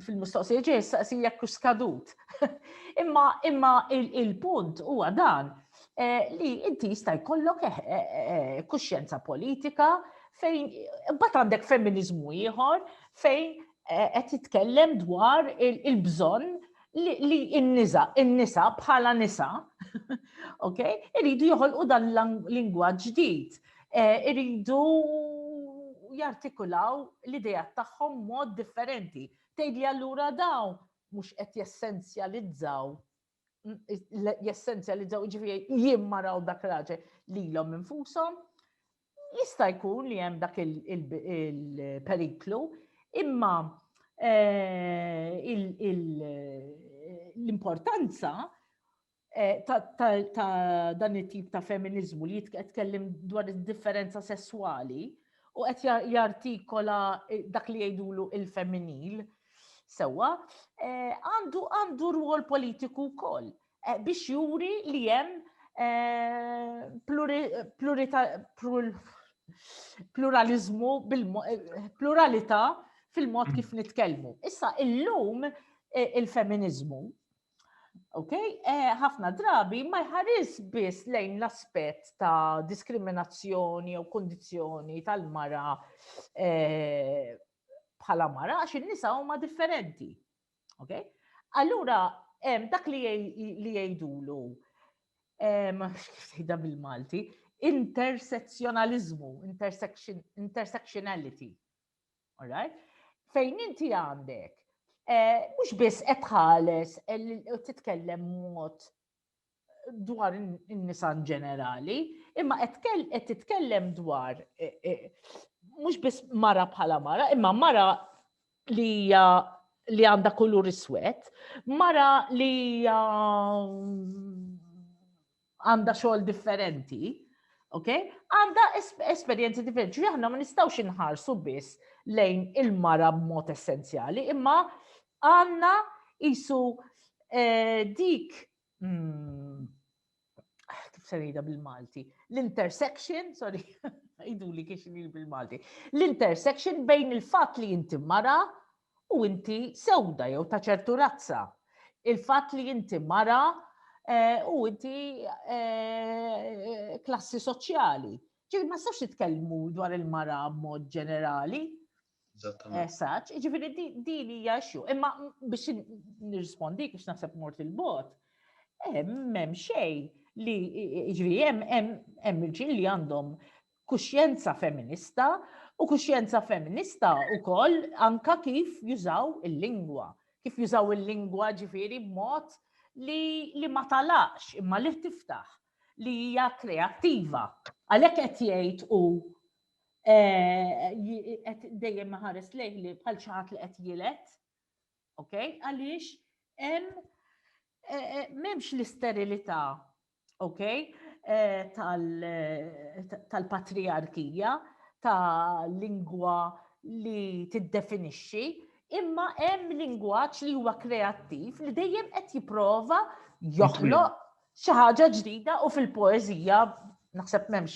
fil-mistoqsija ġej saqsi jekk hux skadut. imma imma il-punt huwa dan eh, li inti jista' jkollok eh, eh, kuxjenza politika fejn imbagħad għandek femminizmu ieħor fejn qed jitkellem dwar il-bżonn li n-nisa, n-nisa bħala nisa, ok, iridu joħolqu dan l-lingwaġġ ġdid Eh, iridu jartikulaw l-idea tagħhom mod differenti. Tgħid li allura daw mhux qed jessenzjalizzaw jessenzjalizzaw ġifieri jien maraw dak raġel lilhom infushom. Jista' jkun li hemm dak il-periklu, imma eh, l-importanza Eh, ta' dan it-tip ta' feminiżmu li jitkellem dwar id-differenza sesswali u qed jartikola eh, dak li jgħidulu il-femminil sewwa, eh, għandu għandu rwol politiku wkoll biex juri li hemm pluralizmu pluralità fil-mod mm. kif nitkellmu. Issa illum il-feminiżmu Ok, eh, ħafna drabi ma jħaris biss lejn l-aspett ta' diskriminazzjoni jew kondizjoni tal-mara eh, bħala mara għax in-nisa huma differenti. Ok? Allura dak li jgħidulu x'ħida bil-Malti, intersezzjonaliżmu, intersectionality. Fejn inti għandek, eh, mhux biss qed tħares eh, titkellem mod dwar in-nisa ġenerali, imma qed titkellem dwar eh, mhux biss mara bħala mara, imma mara li hija li għandha kulur iswed, mara li hija għandha xogħol differenti, ok? Għandha esperjenzi differenti. Ġifieri aħna ma nistgħux inħarsu biss lejn il-mara b'mod essenzjali, imma għandna isu eh, dik hmm, kif se ngħidha bil-Malti, l-intersection, sorry, idu li kiex bil-Malti, l-intersection bejn il-fatt li inti mara u inti sewda jew ta' ċertu razza. Il-fatt li inti mara u inti klassi soċjali. Ġifieri ma nistax nitkellmu dwar il-mara b'mod ġenerali. Eżatt, ġifieri din hija xju. Imma biex nirrispondi biex naħseb mort il-bot, hemm xejn li ġifieri hemm irġiel li għandhom kuxjenza feminista u kuxjenza feminista wkoll anke kif jużaw il-lingwa. Kif jużaw il-lingwa ġifieri b'mod li ma talaqx imma li tiftaħ, li hija kreattiva. Għalhekk qed jgħid hu eh, qed dejjem ħares lejh li bħal xi ħadd li qed jilet, ok? Għaliex hemm eh, eh, m'hemmx l-isterilità ok, eh, tal-patriarkija, ta' lingwa li tiddefinixxi, imma hemm lingwaġġ li huwa kreattiv li dejjem qed jipprova joħloq xi ħaġa ġdida u fil-poeżija naħseb m'hemmx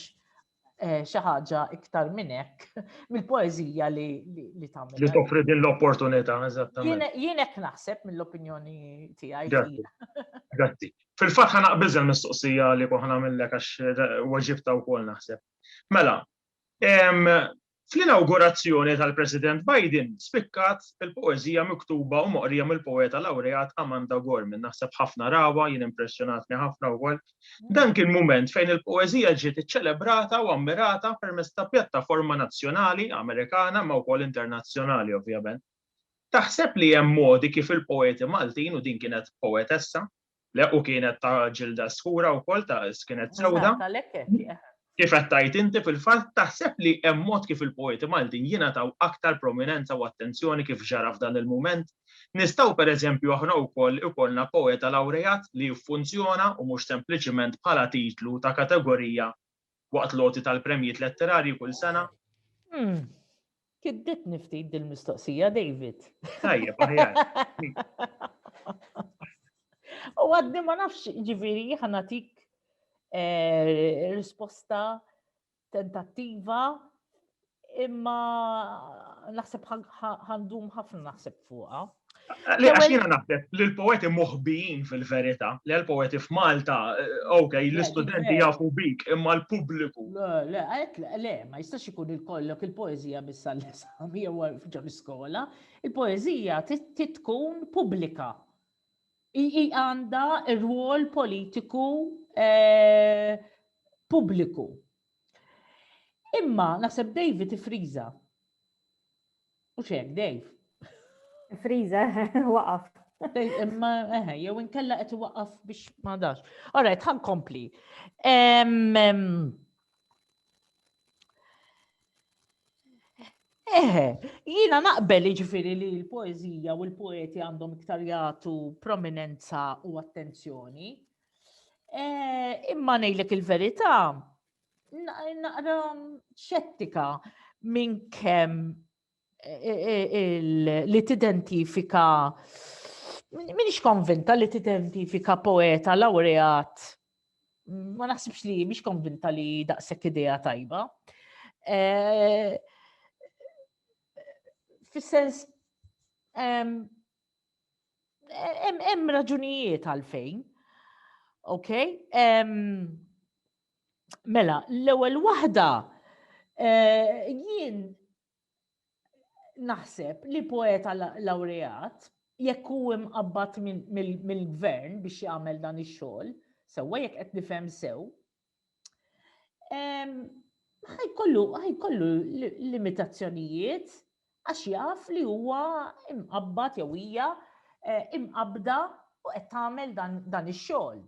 eh, xi ħaġa iktar minn hekk mill-poeżija li li tagħmel. Li toffri din l-opportunità, eżattament. Jien hekk naħseb mill-opinjoni tiegħi. Grazzi. Fil-fatt ħa naqbiż il-mistoqsija li koħna minnlek għax eh, waġibta wkoll naħseb. Mela, Fl-inawgurazzjoni tal-President Biden spikkat il-poeżija miktuba u moqrija mill-poeta lawreat Amanda Gorman. Naħseb ħafna rawha, jien impressjonatni ħafna wkoll. Dan kien mument fejn il-poeżija ġiet iċċelebrata u ammirata permezz ta' pjattaforma nazzjonali Amerikana imma wkoll internazzjonali ovvjament. Taħseb li hemm modi kif il-poeti Maltin, u din kienet poetessa, Le, u kienet ta' ġilda skura wkoll ta' kienet sewda. Kif qed tgħid inti fil-fatt taħseb li hemm mod kif il-poeti Maltin jingħataw aktar prominenza u attenzjoni kif ġara f'dan il-mument? Nistgħu pereżempju aħna wkoll ikollna poeta lawreat li jiffunzjona u mhux sempliċiment bħala titlu ta' kategorija waqt l-għoti tal-premjiet letterarji kull sena? Hmm. Kidditni ftit dil-mistoqsija, David. Tajjeb, aħjar. U għadni ma nafx ġiviri ħanatik eh, risposta tentattiva Imma naħseb ħandum ħafna naħseb fuqha. Li għax jiena naħseb li l-poeti moħbijin fil-verità, li l-poeti f'Malta, eh, ok, l-istudenti jafu bik, imma l-pubbliku. Le, le, ma jistax ikun il-kollok il-poezija biss għall-esami jew ġo l-iskola, il-poezija titkun pubblika. I għanda r-rwol politiku eh, pubbliku. Imma naħseb David ifriża. U xek, Dave. Friza, waqaf. Imma, eħe, jew inkella qed waqaf biex ma dax. Alright, ħan kompli. Eħe, jina naqbel ġifiri li l-poezija u l-poeti għandhom iktar jagħtu prominenza u attenzjoni. Eh, imma ngħidlek il-verità, naqra xettika minn kemm eh, eh, li tidentifika minix konvinta li tidentifika poeta laureat ma naħsibx li mhix konvinta li daqshekk idea tajba. Fis-sens Hemm raġunijiet għalfejn. Ok? Mela, l-ewwel waħda eh, jien naħseb li poeta laureat jekk hu imqabbad mill-gvern biex jagħmel dan ix-xogħol, sewwa jekk qed nifhem sew, ħajkollu ħajkollu limitazzjonijiet għax jaf li huwa imqabbad jew hija eh, imqabda u qed tagħmel dan ix-xogħol.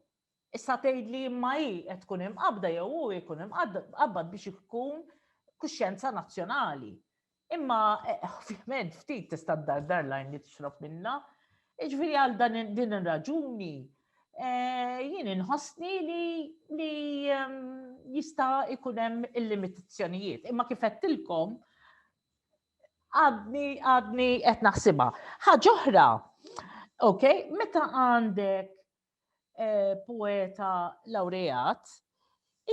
Issa tgħid li imma hi qed tkun imqabda jew hu jkun imqabbad biex ikun kuxjenza nazzjonali. Imma ovvjament ftit tista' ddardar lajn li tixrob minnha. Iġviri għal dan din ir-raġuni eh, jien inħossni li li ehm, jista' ikun hemm il-limitazzjonijiet. Imma kif qedtilkom għadni għadni qed naħsibha. Ħaġa oħra, ok, meta għandek poeta lawreat,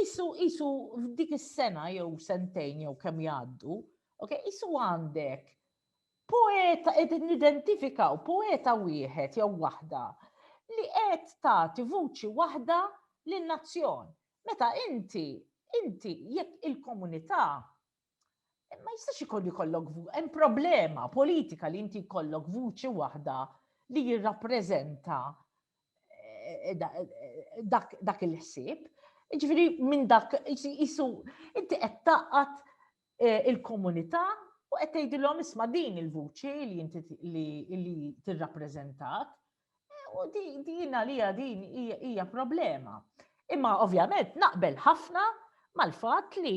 isu isu f'dik is-sena jew sentejn jew kemm jgħaddu, ok, isu għandek poeta qed nidentifikaw poeta wieħed jew waħda li qed tagħti vuċi waħda lin-nazzjon. Meta inti inti jekk il-komunità ma jistax ikun jkollok hemm problema politika li inti jkollok vuċi waħda li jirrappreżenta eh, eh, dak il-ħsieb. Ġifieri minn dak jisu inti qed taqgħad eh, il-komunità u qed tgħidilhom isma' din il-vuċi li inti li tirrappreżentat U din għalija din hija problema. Imma ovvjament naqbel ħafna mal-fatt li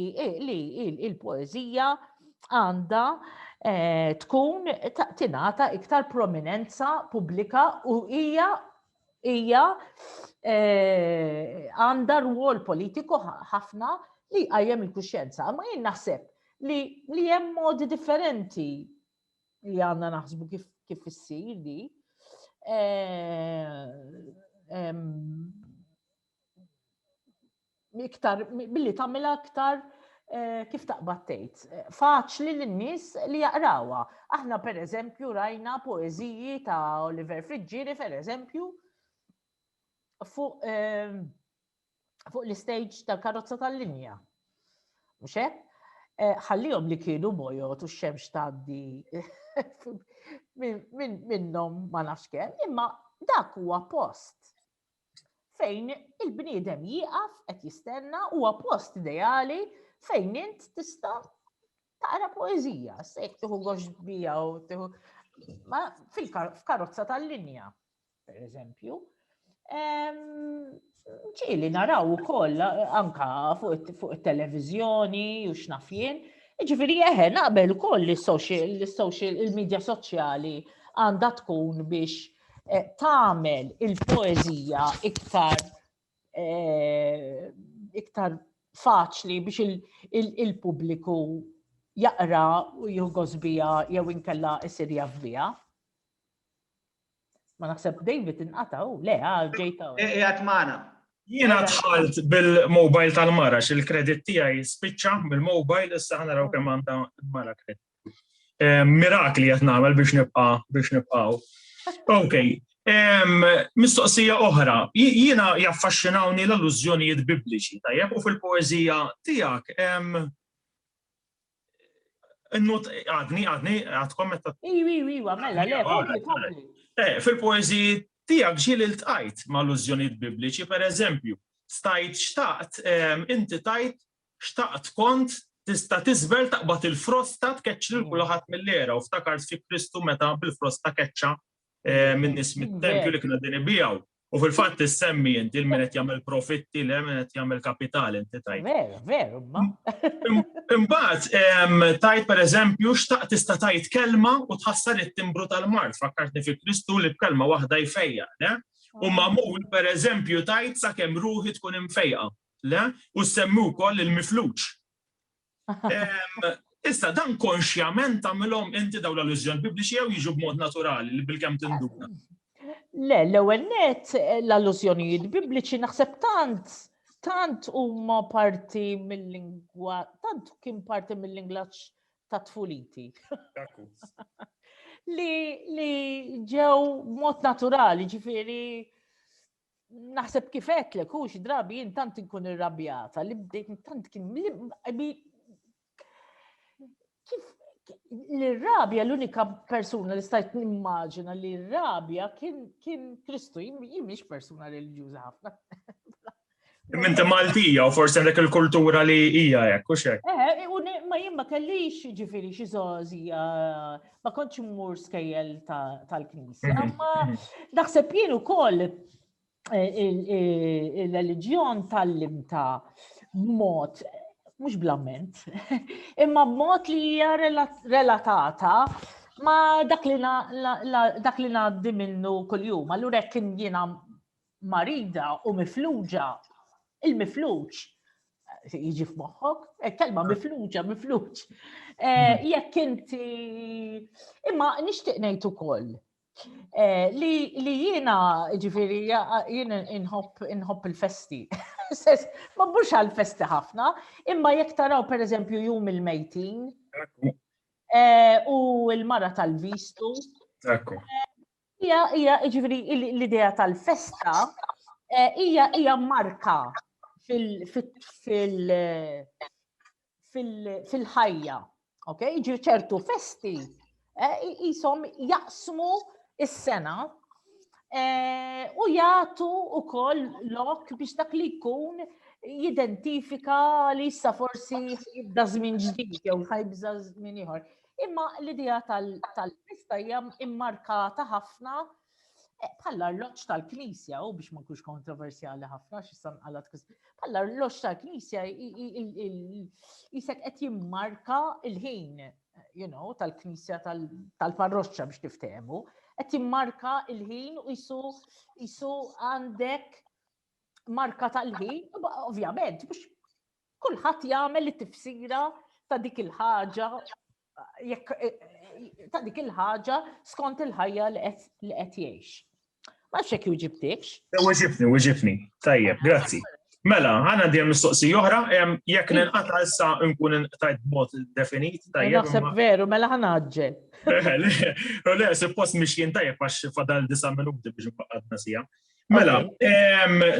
il-poeżija għandha eh, tkun tingħata iktar prominenza pubblika u hija hija eh, għandha rwol politiku ħafna li għajem il-kuxjenza. Ma jien naħseb li hemm modi differenti li għandna naħsbu kif kif issir di. Iktar billi tagħmilha iktar Eh, kif taqbad tgħid, eh, faċli lin-nies li jaqrawha. Aħna pereżempju rajna poeżiji ta' Oliver Friġġieri pereżempju fuq eh, fuq l-istage tal-karozza tal-linja. Mhux hekk? Eh, ħallihom li kienu bojot u x-xemx tgħaddi minnhom ma nafx kemm, imma dak huwa post fejn il-bniedem jieqaf qed jistenna huwa post ideali fejn int tista' taqra poeżija, se jekk tieħu gox bija u tieħu fil-karozza tal-linja. per eżempju, ċili naraw u koll, anka fuq il-televizjoni u xnafjen, Ġifiri, eħe, naqbel ukoll li social, il-medja soċjali għandha tkun biex eh, tagħmel il-poeżija iktar eh, iktar faċli biex il-pubbliku jaqra u jugos bija jew inkella isir jaf bija. Ma naħseb David inqata' u le, ah, ġejta. E, e, għat maħna. Jiena tħalt bil-mobile tal-mara, xil-kredit tiegħi spiċċa bil-mobile, issa ħana raw kemm għandha mara kredit. Eh, mirakli qed nagħmel biex nibqa' biex nibqgħu. Ok, mistoqsija oħra, jiena jaffaxxinawni l-allużjonijiet bibliċi, tajjeb, u fil-poezija tiegħek Nut, għadni, għadni, għadkom meta. Iwa, iwa, iwa, mela, le, kompli, kompli. Eh, fil-poezi tijak ġil il-tajt ma' l-użjoniet bibliċi, per eżempju, stajt xtaqt, ehm, inti tajt xtaqt kont tista tizbel taqbat il-frosta tkeċċ lil kulħadd mill-era u ftakart fi Kristu meta bil-frosta keċċa eh, minn nis mit-tempju li kienu din ibijaw. U fil-fatt tissemmi inti il min qed jagħmel profitti le min qed jagħmel kapital inti tajt. Veru, veru, ma. Imbagħad tajt pereżempju xtaqt tista' tajt kelma u tħassar it-timbru tal-mart fakkartni fi Kristu li b'kelma waħda jfejja, le? U ah. mamul pereżempju tajt sakemm ruħi tkun imfejqa, le? U semmi wkoll il-mifluġ. Issa dan konxjament tagħmilhom inti dawn l-allużjoni bibliċi jew jiġu b'mod naturali li bil-kemm tinduna. Le, l-ewwel net l-allużjonijiet bibliċi naħseb tant tant huma parti mill-lingwa, tant kien parti mill-inglaċ ta' tfuliti. li, li ġew mod naturali, ġifiri, naħseb kif għetlek, u drabi jien tant inkun irrabjata li bdejt tant kien kif l-rabja l-unika persuna li stajt nimmaġina li l-rabja kien Kristu, jimiex persuna religjuza ħafna. Minti Maltija u forsi għandek il-kultura li hija hekk u xek. Eh, u ma jien ma kellix ġifieri xi żgħożija ma kontx immur skejjel tal-knisja. Mhm, Imma mhm. naħseb jien ukoll eh, il-reliġjon tal-limta mod mhux blament, imma b'mod li hija relatata ma dak li ngħaddi minnu kuljum. Allura jekk jiena marida u mifluġa, il-mifluġ, jiġi f'moħħok, eh, kelma mifluġa, mifluġ. Eh, mhm. Jekk inti, imma nixtieq ngħid ukoll eh, li jiena ġifiri jien inħobb il-festi. Ma mhux għal-festi ħafna, imma jekk taraw pereżempju jum il-mejtin u l-mara tal-vistu. Hija hija jiġifieri l-idea tal-festa eh, hija hija marka fil-ħajja. Ok, ġir ċertu festi eh, jisom jaqsmu is-sena eh, u jagħtu ukoll lok biex dak li jkun jidentifika li issa forsi jibda żmien ġdid jew ħajbża żmien ieħor. Imma l-idea tal-pista hija immarkata ħafna eh, bħall-arloġġ tal-Knisja, u biex ma nkunx kontroversjali ħafna, xissan għalat bħall-arloġġ tal-Knisja jisek qed jimmarka il-ħin, you know, tal-Knisja tal-parroċċa biex tiftehmu, qed jimmarka il-ħin u jisu jisu għandek marka tal-ħin, ovvjament, biex Kulħadd jagħmel it-tifsira ta' dik il-ħaġa jekk eh, eh, ta' dik il-ħaġa skont il-ħajja li qed jgħix. Ma nafx hekk juġibtikx. Eh, uġibni, uġibni. Tajjeb, grazzi. Mela, għana djem mistoqsi oħra, jekk ninqata issa nkun inqtajt b'mod definit, tajjeb. Naħseb veru, mela ħanaġġel. Le, suppost miex jien tajjeb għax fadal disa minuti biex nfaqadna sija. Mela,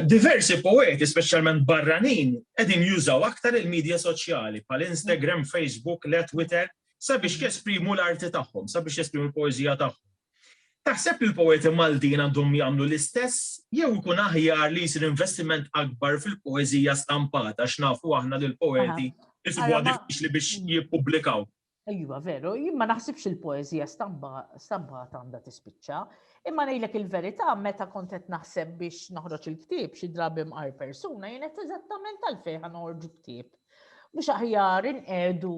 diversi poeti, specialment barranin, edin jużaw aktar il-medja soċjali, pal Instagram, Facebook, le Twitter, sabiex mm. jesprimu l-arti tagħhom, sabiex jesprimu l-poezija tagħhom. Taħseb li l-poeti Maltin għandhom jagħmlu l-istess jew ikun aħjar li jsir investiment akbar fil-poezija stampata x'nafu aħna lil poeti isbuha diffiċli biex jippubblikaw. Iva, veru, jien ma naħsibx il-poeżija stampata għandha tispiċċa, imma ngħidlek il-verità meta kont qed naħseb biex noħroġ il-ktieb xi drabi mqar persuna jien qed eżattament għalfejn noħorġu ktieb. Mhux aħjar inqedu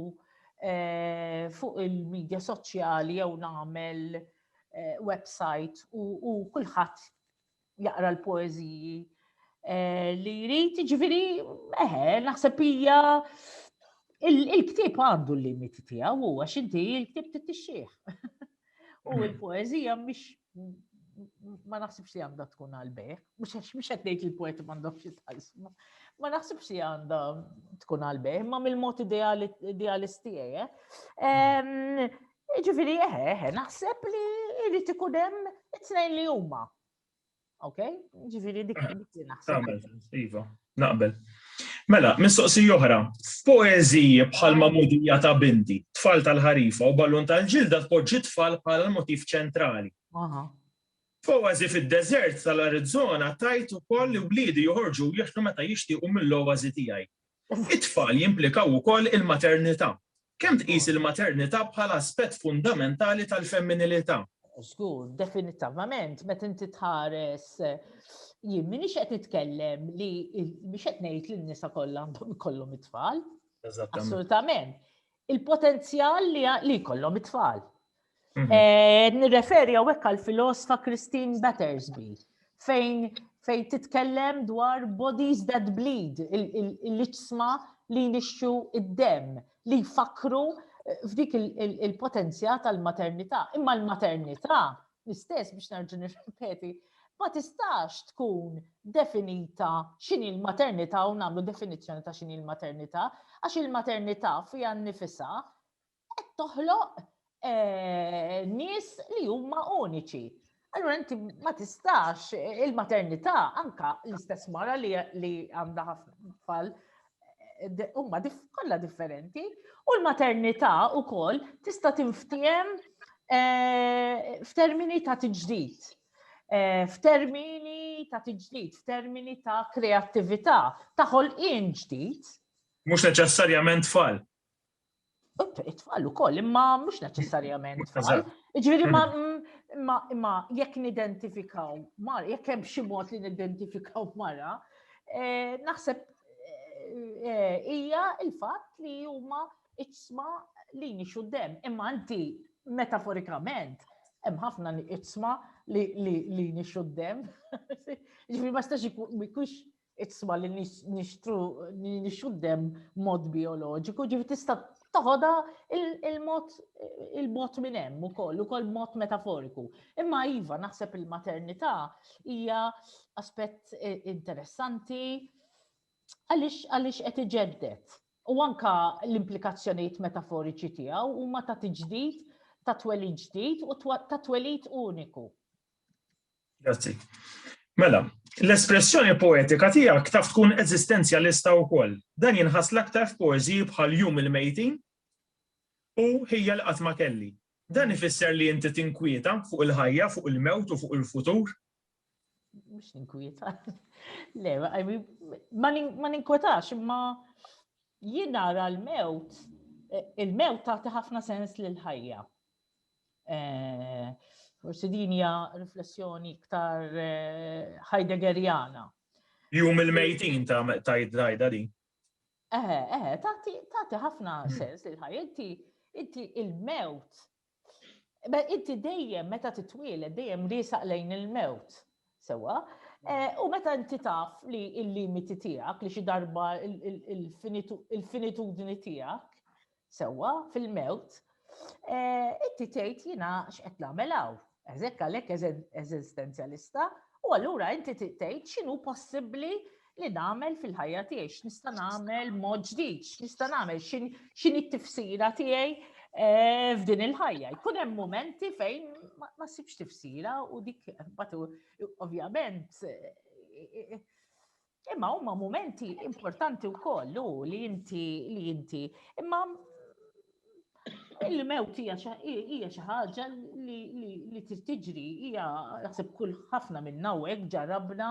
eh, fuq il-medja soċjali jew nagħmel eh, website u kulħadd jaqra l-poeżiji li jrid, jiġifieri eħe, naħseb hija il-ktieb għandu l-limiti tiegħu huwa x'inti il-ktieb titixxih. U mm. l-poeżija mhix ma naħsibx li għandha tkun għalbejħ, mhux għax mhux qed ngħid il-poeti m'għandhomx jitħallsu. Ma naħsibx li għandha tkun għalbejħ, ma mill-mod idealist tiegħi. Eh. Ġifiri, eħe, eħe, naħseb li irrit ikun hemm it-tnejn li huma. Ok? Ġifiri, dik li naħseb. Iva, naqbel. Mela, mistoqsi oħra, f'poeziji bħal mamudija ta' binti, tfal tal-ħarifa u ballun tal-ġilda tpoġġi tfal bħala l-motiv ċentrali. F'oazi fid-deżert tal-Arizona tajt ukoll li wliedi joħorġu jieħdu meta jixtiequ mill-oazi tiegħi. It-tfal jimplikaw ukoll il-maternità. Kemm tqis il-maternità bħala aspett fundamentali tal-femminilità? Żgur, definitavament, meta inti tħares jien minix qed nitkellem li biex qed ngħid li n-nisa kollha għandhom ikollhom it-tfal. Assolutament. il-potenzjal li jkollhom it-tfal. Mhm. Eh, nirreferi għawek għal filosfa Christine Battersby, fejn fejn titkellem dwar bodies that bleed, il-liċsma li nixxu id-dem, li jfakru eh, f'dik il-potenzja tal-maternità. Imma l-maternità L-istess biex nerġa' nirrepeti, ma tistax tkun definita x'inhi l-maternità u nagħmlu definizzjoni ta' x'inhi l-maternità, għax il-maternità fiha nnifisha qed toħloq eh, nies li huma uniċi. Allura inti ma tistax il-maternità anka l-istess mara li għandha ħafna tfal huma kollha differenti u l-maternità wkoll tista' tinftiehem eh, f'termini ta' tiġdid eh, f'termini ta' tiġdid, f'termini ta' kreattività, ta' ħolqien ġdid. Mhux neċessarjament tfal. It-tfal ukoll, imma mhux neċessarjament tfal. Ġifieri ma imma jekk nidentifikaw mar, jekk hemm xi mod li nidentifikaw mara, eh, naħseb eh, eh, hija il-fatt li huma iċsma li nixu dem. Imma anti metaforikament hemm ħafna iċsma li nixu dem. Ġifieri ma stax ikunx Itsma li nixtru nixtru dem mod bioloġiku, ġifi tista' toħodha il-mod il-mod minn hemm ukoll, ukoll mod metaforiku. Imma iva naħseb il-maternità hija aspett eh, interessanti għaliex għaliex qed iġeddet. U anka l-implikazzjonijiet metaforiċi tiegħu huma ta' tiġdid ta' twelid ġdid u ta' twelid uniku. Grazzi. Mela, l-espressjoni poetika tiegħek taf tkun eżistenzjalista wkoll. Dan jinħass l-aktar f'poeżiji bħal Jum il-Mejtin u Ħija li qatt ma kelli. Dan ifisser li inti tinkwieta fuq il-ħajja, fuq il-mewt u fuq il-futur? Mhux ninkwieta. Le, ma ninkwetax imma jien nara l-mewt, il-mewt tagħti ħafna sens lil ħajja. Forsi din hija riflessjoni iktar Heideggeriana. Jum il-mejtin ta' id-drajda din. Eħe, eħe, tagħti ħafna hmm. sens li ħaj, inti inti il-mewt. Inti dejjem meta titwieled dejjem risaq lejn il-mewt. Sewa, hmm. eh, u meta inti taf li il-limiti tiegħek li xi darba il-finitudni tiegħek sewwa fil-mewt, eh, inti tgħid jiena x'qed nagħmel hawn. Eżek għalhekk eżistenzjalista u allura inti tgħid x'inhu possibbli li nagħmel fil-ħajja tiegħi, x'nista' nagħmel mod ġdid, x'nista' nagħmel x'inhi t-tifsira tiegħi eh, f'din il-ħajja. Jkun hemm momenti fejn ma sibx tifsira u dik batu ovvjament eh, Imma huma mumenti importanti wkoll u li inti li inti imma il-mewt hija xi ħaġa li trid tiġri hija naħseb kull ħafna minn hawnhekk ġarabna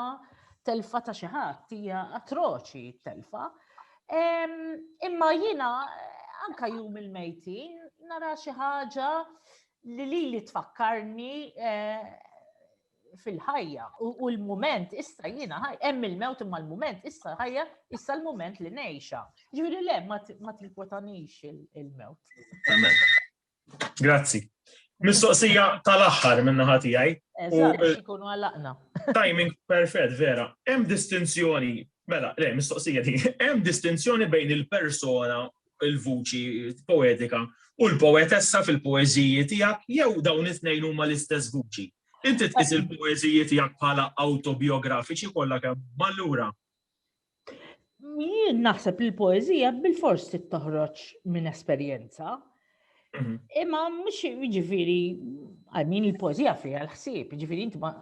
telfa ta' xi ħadd hija atroċi telfa. Imma jiena anka jum il-mejtin nara xi ħaġa li li li tfakkarni eh, fil-ħajja u l-moment issa jiena ħaj, hemm il-mewt imma l-moment issa ħajja issa l-moment li ngħixha. Ġifieri le ma tinkwetanix il-mewt. Grazzi. Mistoqsija tal-aħħar minna ħati għaj. Eżatt, eh, ikunu għalaqna. Timing perfett, vera. Hemm distinzjoni, mela, le, mistoqsija di, hemm distinzjoni bejn il-persona il-vuċi poetika u l-poetessa fil-poeżiji tiegħek jew dawn it-tnejn huma l-istess vuċi? Inti tqis il-poeżiji tiegħek bħala awtobiografiċi kollha kemm mallura? Jien naħseb li l-poeżija bil-fors toħroġ minn esperjenza. Mhm. Imma mhux jiġifieri għal min il-poeżija fiha l-ħsieb, jiġifieri inti ma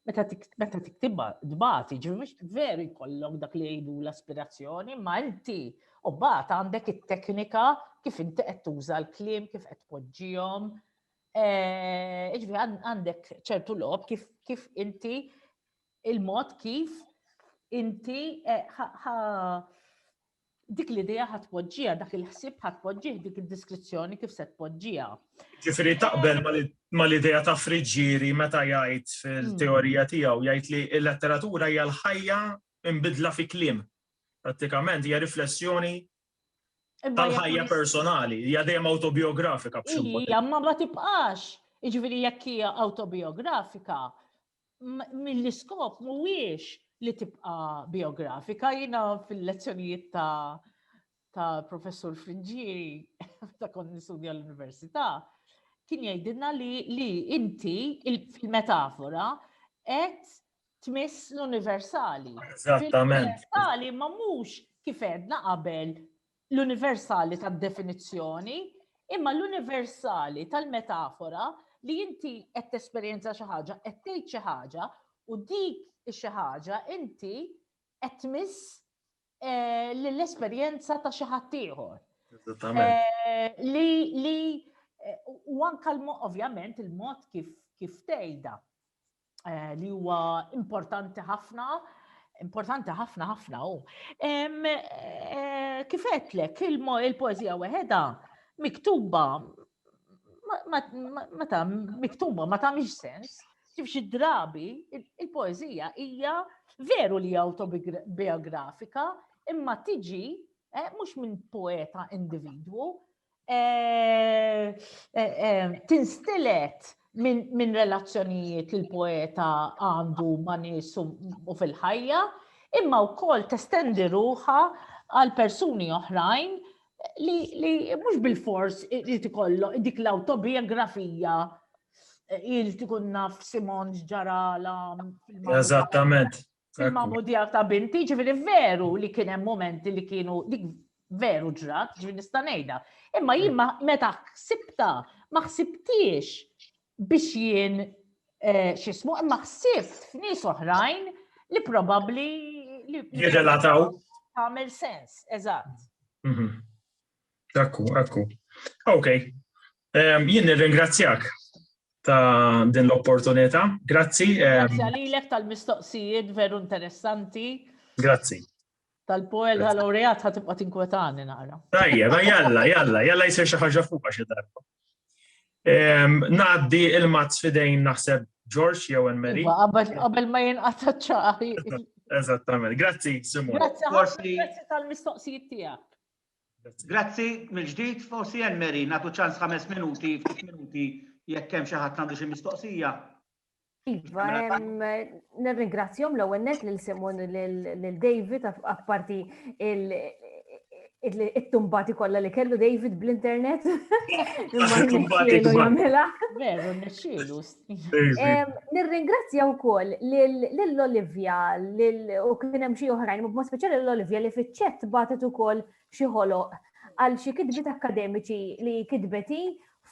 Meta tiktibha dbati, ġifi mhux veru jkollok dak li jgħidu l-aspirazzjoni, ma inti u bat għandek it-teknika kif inti qed tuża l-kliem, kif qed tpoġġihom. Eh, ġifi għandek ċertu lob kif kif inti il-mod kif inti eh, Dik l-idea ħadd tpoġġiha, dak il-ħsieb ħadd tpoġġih, dik id-diskrizzjoni kif se tpoġġiha. Ġifieri taqbel mal-idea ta' Friggieri meta jgħid fil-teorija hmm. tiegħu jgħid li l-letteratura hija l-ħajja imbidla fi kliem. Prattikament hija riflessjoni tal-ħajja personali, hija dejjem autobiografika b'xi Hija ma ma tibqax. Jiġifieri jekk hija autobiografika, mill-iskop mhuwiex li tibqa' biografika, jiena fil-lezzjonijiet ta' ta' professur Frinġieri ta' kont nistudja l-Università, kien jgħidilna li, li inti fil-metafora qed tmiss l-universali. Eżattament. L-universali ma mhux kif għedna qabel l-universali tad-definizzjoni, imma l-universali tal-metafora li inti qed tesperjenza xi ħaġa, qed tgħid xi ħaġa u dik xi ħaġa inti qed tmiss eh, l-esperjenza ta' xi ħadd ieħor. Eh, li li eh, u anka ovvjament il-mod kif kif tgħidha. eh, li huwa importanti ħafna, importanti ħafna ħafna u. Eh, Kifetlek il-poezija weħeda miktuba meta miktuba ma tagħmilx sens, ġif xi drabi il-poezija hija veru li autobiografika imma tiġi eh, mhux minn poeta individwu, eh, eh, eh, tinstilet minn relazzjonijiet li l-poeta għandu ma' nies u fil-ħajja, imma wkoll testendi ruħa għal persuni oħrajn li mhux bil-fors li tikollu dik l-autobiografija il tikun naf Simon ġarala. Eżattament. fil-mamudjar ta' binti, ġifiri veru li kien hemm momenti li kienu dik veru ġrat, ġifiri nista' ngħidha. Imma jien meta ħsibta, ma ħsibtiex biex jien eh, xismu, imma ħsibt f'nies oħrajn li probabbli li jirrelataw. Għamel sens, eżatt. Mhm. Akku, akku. Ok. Um, jien nirringrazzjak ta' din l-opportunità. Grazzi. Grazzi għalilek tal-mistoqsijiet veru interessanti. Grazzi. Tal-poel tal-laureat ħatibqa tinkwetani nara. Tajja, ma jalla, jalla, jalla jisir xi ħaġa fuq xi darba. Naddi il-mazz fidejn naħseb George jew Mary. Iva, qabel ma jinqata' ċaħi. Eżattament. Grazzi, Simon. Grazzi, grazzi tal-mistoqsijiet tiegħek. Grazzi mill-ġdid, forsi Anne Mary nagħtu ċans ħames minuti, ftit minuti jekk hemm xi ħadd għandu xi mistoqsija. Iva, nirringrazzjom l-ewwel net lil Simon lil David apparti it-tumbati kollha li kellu David bl-internet. Imma jagħmilha. Veru, nexxielu, Nirringrazzja wkoll lil Olivia u kien hemm xi oħrajn, b'mod speċjali lil Olivia li fiċ-ċett bagħtet ukoll xi ħoloq għal xi kitbiet akademiċi li kitbeti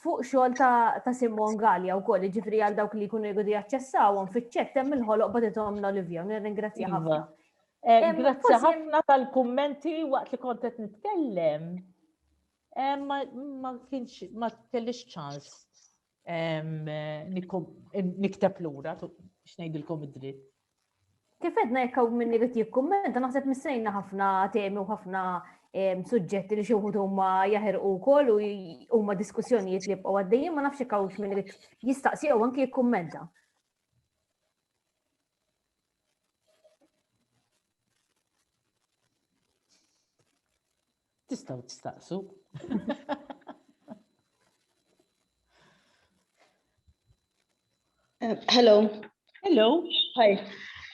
fuq xogħol ta' Simon Gallia wkoll, jiġifieri għal dawk li jkunu jgħidu jaċċessawhom fiċ-ċett hemm il-ħoloq bagħtithom l-Olivia, nirringrazzja iva. ħafna. Eh, grazzi ħafna tal-kummenti waqt li kont qed nitkellem. Eh, ma kienx ma kellix ċans Nikteb lura, x'ngħidilkom id-dritt. Kif edna jekk hawn minni qed jikkummenta naħseb missejna ħafna temi u ħafna suġġetti li xi wħud huma jaħirqu wkoll u huma diskussjonijiet li jibqgħu għaddejjin ma nafx jekk hawnx min irid jistaqsi jew anke jikkummenta. Tistgħu tistaqsu. Eh, hello. Hello. Hi.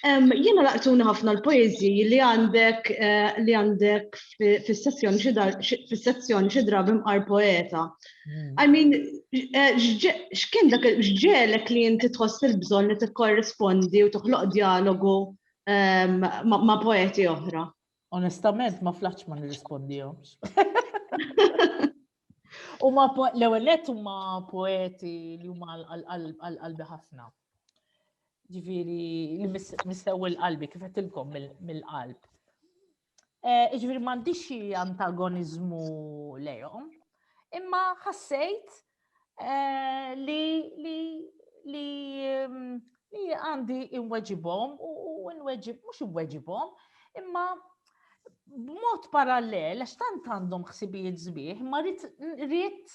Um, Jena laqtuna ħafna l-poezji li għandek eh, li għandek fis-sezzjoni fis-sezzjoni xi drabi mqar poeta. Hmm. I mean, eh, x'kien dak x'ġelek li inti tħoss il-bżonn li tikkorrispondi u toħloq dialogu ehm, ma' poeti oħra? Onestament, ma flaċ ma nirrispondihomx. U ma l-ewwel nett huma poeti li huma għal-qalbi ħafna. Ġifieri li mistew il-qalbi kif qedtilkom mill-qalb. Eh, ġifieri m'għandix xi antagoniżmu lejhom, imma ħassejt eh, li li li mm, li għandi inweġibhom u nweġib, mhux inweġibhom, imma b'mod parallel, għax tant għandhom ħsibijiet zbieħ, ma rrit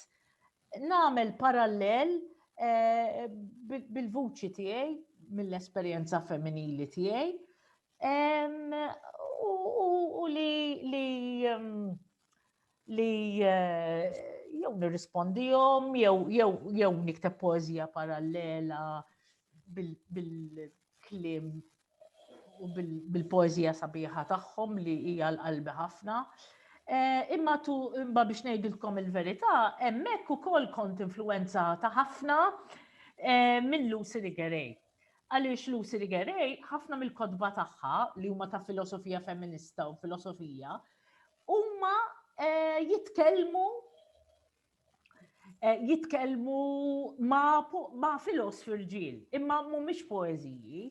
namel parallel eh, bil-vuċi tiegħi, mill-esperjenza femminili tiegħi, u li li li eh, jew nirrispondihom jew nikteb poezija parallela bil-klim u bil-poezija sabiħa tagħhom li hija l-qalbi ħafna. Eh, imma tu imma biex ngħidilkom il-verità, hemmhekk ukoll kont influenzata ħafna eh, minn Lucy Rigerej. Għaliex Lucy Rigerej, ħafna mill-kodba tagħha li huma ta' filosofija feminista u filosofija, Huma jitkellmu jitkellmu ma' filosofi rġiel, imma mhumiex poeżiji.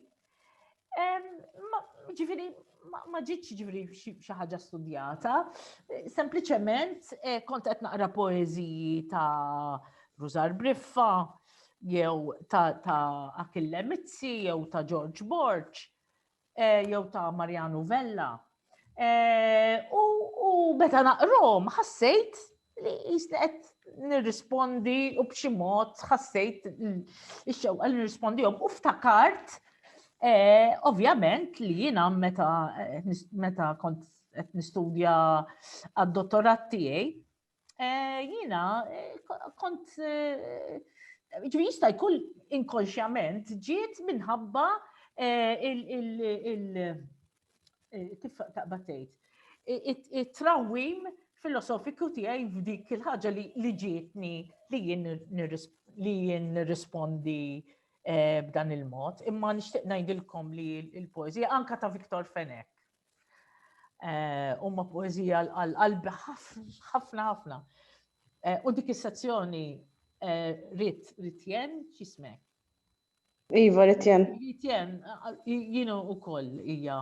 Ġifieri ma ġitx ġifieri xi ħaġa studjata, sempliċement kont qed naqra poeżiji ta' Rużar Briffa, jew ta' Achille Mizzi, jew ta' George Borg, jew ta' Mariano Vella. U meta naqrom ħassejt li jisni qed nirrispondi u b'xi mod ħassejt ix-xewqa li nirrispondihom u ftakart ovvjament li jiena meta meta kont qed nistudja għad-dottorat tiegħi Eh, jina, eh, kont, eh, ġvi jista jkun inkonxjament ġiet minħabba kif taqbatejt, it-trawim filosofiku tiegħi f'dik il-ħaġa li ġietni li jien nirrispondi b'dan il-mod, imma nixtieq ngħidilkom li l-poeżija anka ta' Viktor Fenek Eh, huma poezija għal-qalbi ħafna ħafna. Eh, u dik is-sezzjoni eh, rit ritjen x'ismek? Iva ritjen. Ritjen jienu ukoll hija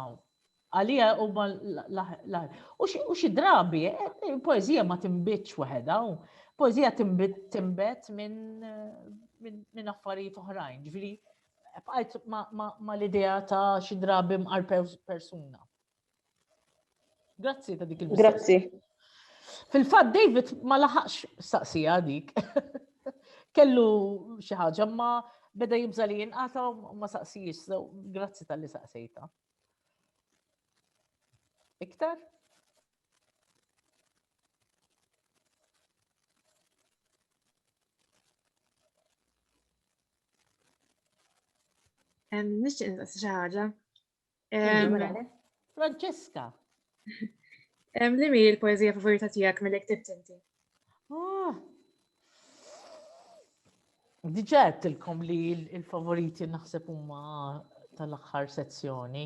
għalija u u xi drabi poezija ma timbitx waħedha u poezija timbet minn affarijiet oħrajn, ġifieri bqajt ma l-idea ta' xi drabi mqar persuna. Grazzi ta' dik il Grazzi. Fil-fatt David ma laħaqx staqsija dik. Kellu xi ħaġa ma beda jibża li jinqata ma saqsijiex, so grazzi tal-li saqsejta. Iktar? Nixtieq nistaqsi xi ħaġa. Francesca. Li mi l-poezija favorita tiegħek mill ktibt inti? Ah. Diġet tilkom li l-favoriti naħseb huma tal-aħħar sezzjoni.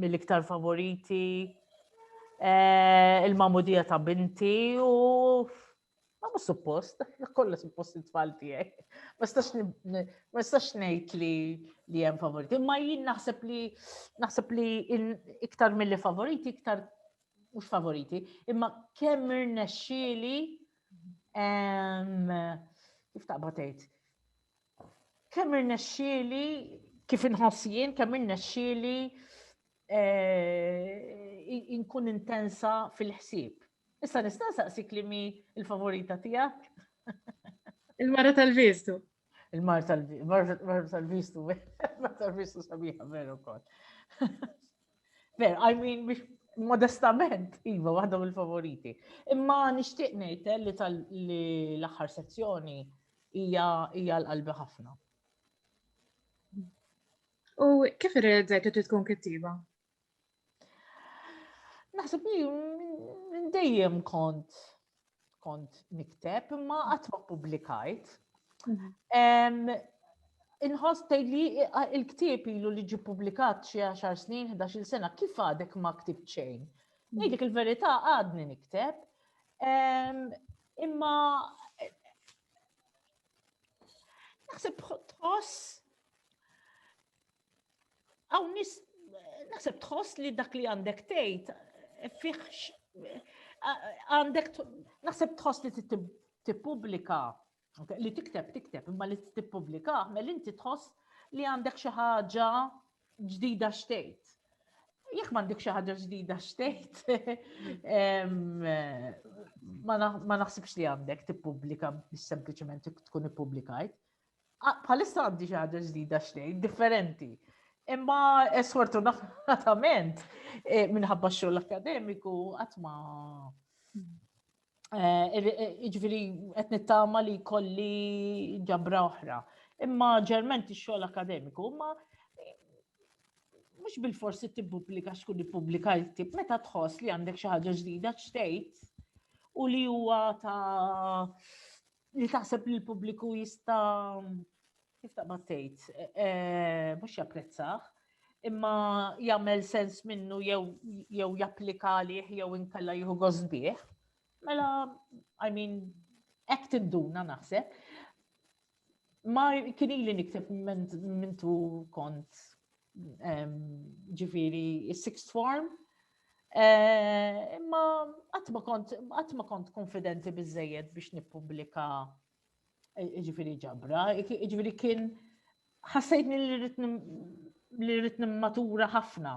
mill-iktar favoriti eh, il-mamudija ta' binti u ma mhux suppost, kollha suppost it-tfal tiegħek. Ma nistax ngħid li li hemm favoriti, imma jien naħseb li naħseb li iktar milli favoriti, iktar mhux favoriti, imma kemm irnexxieli kif taqbad tgħid Kemm irnexxieli kif inħoss jien kemm irnexxieli eh, inkun intensa fil-ħsieb. Issa nista' saqsik li mi l-favorita tiegħek? Il-mara tal-vistu. Il-mara tal-vistu, mara tal-vistu sabiħa veru kol. Ver, I mean, modestament, iva, waħda mill-favoriti. Imma nixtieq ngħid eh, li tal-aħħar sezzjoni hija l-qalbi ħafna. U kif irrealizzajt li tkun kittiba? Naħseb li dejjem kont kont nikteb imma qatt ma publikajt. Mhm. Inħoss li il-ktieb ilu li ġi publikat xi 10 snin, 11 sena, kif għadek ma ktib xejn? Mhm. Ngħidlek il-verità għadni nikteb. Imma naħseb tħoss Hawn nis naħseb tħoss li dak li għandek tgħid eh, fih eh, għandek naħseb tħoss li tippubblika li tikteb tikteb imma li tippubblika mel inti tħoss li għandek xi ħaġa ġdida xtejt. Jekk m'għandek xi ħaġa ġdida xtejt, ma naħsibx li għandek tippubblika biex sempliċement tkun ippubblikajt. Bħalissa għandi xi ħaġa ġdida xtejn, differenti. Imma eh, sfortunatament eh, minħabba x-xogħol akademiku qatt ma eh, iġviri qed nittama li kolli ġabra oħra. Imma ġerment ix-xogħol akademiku, imma mux bil-forsi t-publika xkun il-publika jtib, meta tħoss li għandek xaħġa ġdida ċtejt u li huwa ta' Li taħseb li l-pubbliku jista' kif ta' tgħid, eh, eh, mhux japprezzaħ, imma jagħmel sens minnu jew japplika għalih jew inkella jieħu gosbieħ. Mela, I mean, hekk tinduna naħseb. Ma kien ili nikteb mintu kont ġifiri sixth form, Eh, imma qatt ma kont konfidenti biżejjed biex nippubblika eh, ġifiri ġabra, ġifiri kien ħassejt li rrit matura ħafna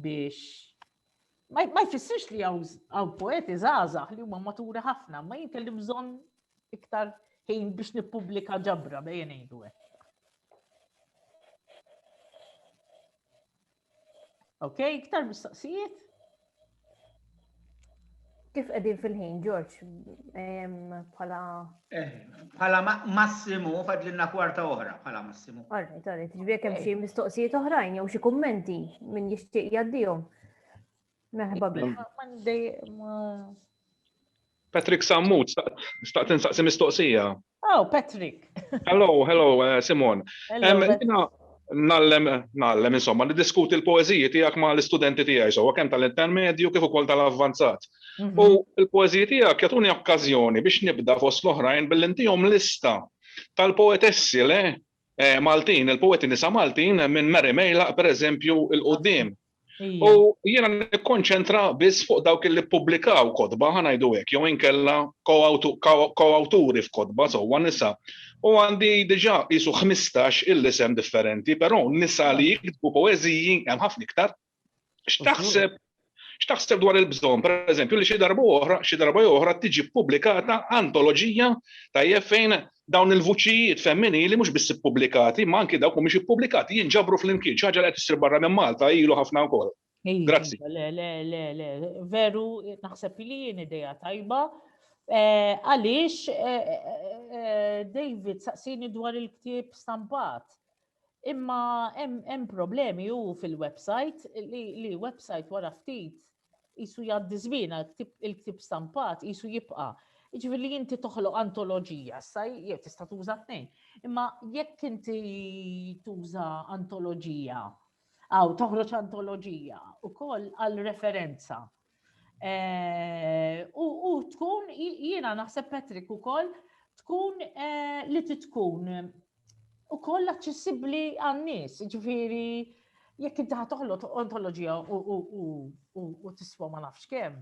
biex ma jfissirx li għaw poeti zazax li huma matura ħafna, ma jinkelli bżon iktar ħin biex nippubblika ġabra bejn ngħidu hekk. Ok, iktar mistoqsijiet? Kif qegħdin fil-ħin, George? Bħala. Eh, bħala massimu, fadlinna kwarta oħra, bħala massimu. Għarri, għarri, ġbir kemm xi mistoqsijiet oħrajn jew xi kummenti minn jixtieq jaddihom. Merħba Patrick Sammut, staqt insaqsi mistoqsija. Oh, Patrick. hello, hello, uh, Simon. Hello, nallem, nallem, insomma, li diskuti l-poeziji tijak ma l-istudenti tijaj, so, kem tal-intermedju kif ukoll tal-avvanzat. Mhm. U l-poeziji tijak jatuni okkazjoni biex nibda fost l-oħrajn bil-intijom lista tal-poetessi le eh, Maltin, il-poeti nisa Maltin minn Mary Mejlaq, per eżempju, il-qoddim. U jiena nikkonċentra biss fuq dawk li ppubblikaw kotba ħanajdu hekk jew inkella ko-awturi f'kotba sewwa nisa. U għandi diġà qisu 15 il-isem differenti, però nisa li jiktbu poeżiji hemm ħafna iktar. X'taħseb x'taħseb dwar il-bżonn, pereżempju, li xi darba oħra, xi darba oħra tiġi ppubblikata antoloġija tajjeb fejn dawn il-vuċijiet femminili mhux biss ippubblikati, imma anki dawk mhumiex ippubblikati jinġabru flimkien, xi ħaġa li qed issir barra minn Malta ilu ħafna wkoll. Grazzi. Le, le, le, le, veru naħseb li jien ideja tajba. Eh, għaliex eh, eh, David saqsini dwar il-ktieb stampat. Imma hemm problemi hu fil-website li website wara ftit jisu jgħaddi żmien il-ktib stampat jisu jibqa'. Ġifieri li inti toħloq antoloġija, sa jew tista' tuża tnejn. Imma jekk inti tuża antoloġija, għaw toħroġ antoloġija ukoll għal referenza U tkun, jiena naħseb Patrick u koll, tkun li titkun u koll aċċessibli għannis, ġifiri, jekk inti ħatoħlo ontologija u tiswa ma nafx kem.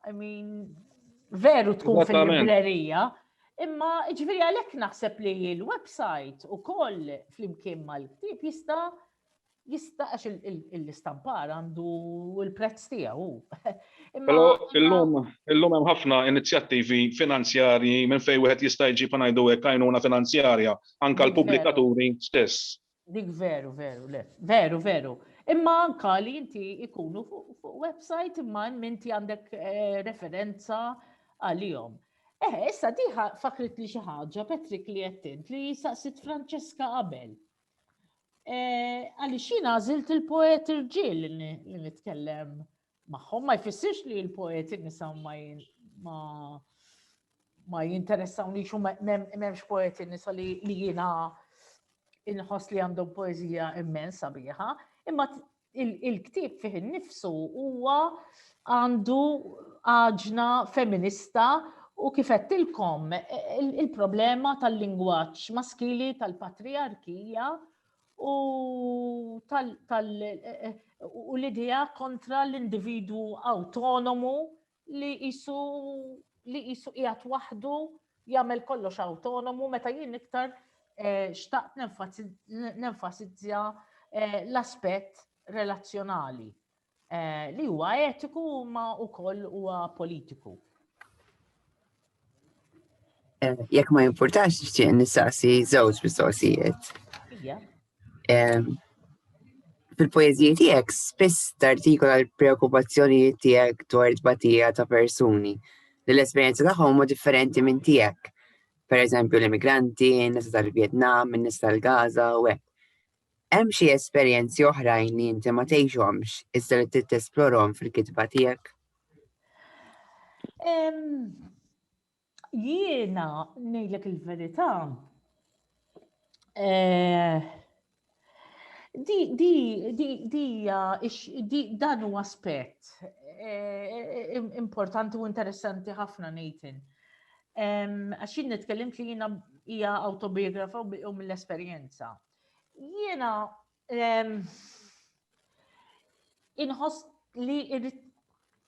I mean, veru tkun fil-librerija, imma ġifiri għalek naħseb li l-website u koll fl-imkien mal-ktib jista' Jista' għax l-istampar għandu l-prezz tiegħu. Però illum illum hemm ħafna inizjattivi finanzjarji minn fejn wieħed jista' jġib ħa ngħidu hekk għajnuna finanzjarja anke l-pubblikaturi stess. Dik veru, veru, le. Veru, veru. Imma anke li inti jkunu fuq website imma hemm inti għandek eh, referenza għalihom. Eh, issa diħa fakrit li xi ħaġa Patrick li qed li saqsit Franceska qabel. Eh, għaliex jien għażilt il-poet irġiel li nitkellem magħhom, ma jfissirx li l-poet nisa ma ma jinteressaw li xum memx poeti nisa li jina inħos li għandhom poezija immensa biħa, imma il-ktib fih innifsu huwa għandu għaġna feminista u kif qedtilkom il-problema tal-lingwaġġ maskili tal-patriarkija u tal u l-idea kontra l-individwu autonomu li jisu li jisu qiegħed waħdu jagħmel kollox autonomu meta jien iktar eh, xtaqt nenfasizzja eh, l-aspett relazzjonali eh, li huwa etiku ma wkoll huwa politiku. Eh, jekk ma jimpurtax nixtieq nistaqsi żewġ mistoqsijiet. Eh, fil-poeżiji tiegħek spiss tartikola l-preokkupazzjonijiet tiegħek dwar tbatija ta' persuni li l-esperjenza tagħhom huma differenti minn tiegħek. Per eżempju l-immigranti, n-nisa tal-Vjetnam, n-nisa tal-Gaza u hekk. Hemm xi esperjenzi oħrajn li inti ma tgħixhomx iżda li trid tesplorhom fil-kitba tiegħek? Jiena ngħidlek il-verità. Eh, di di di di di dan huwa aspett eh, importanti u interessanti ħafna Nathan. Għax jien nitkellimt li jiena hija autobiografa u mill-esperjenza. Jiena ehm, inħoss li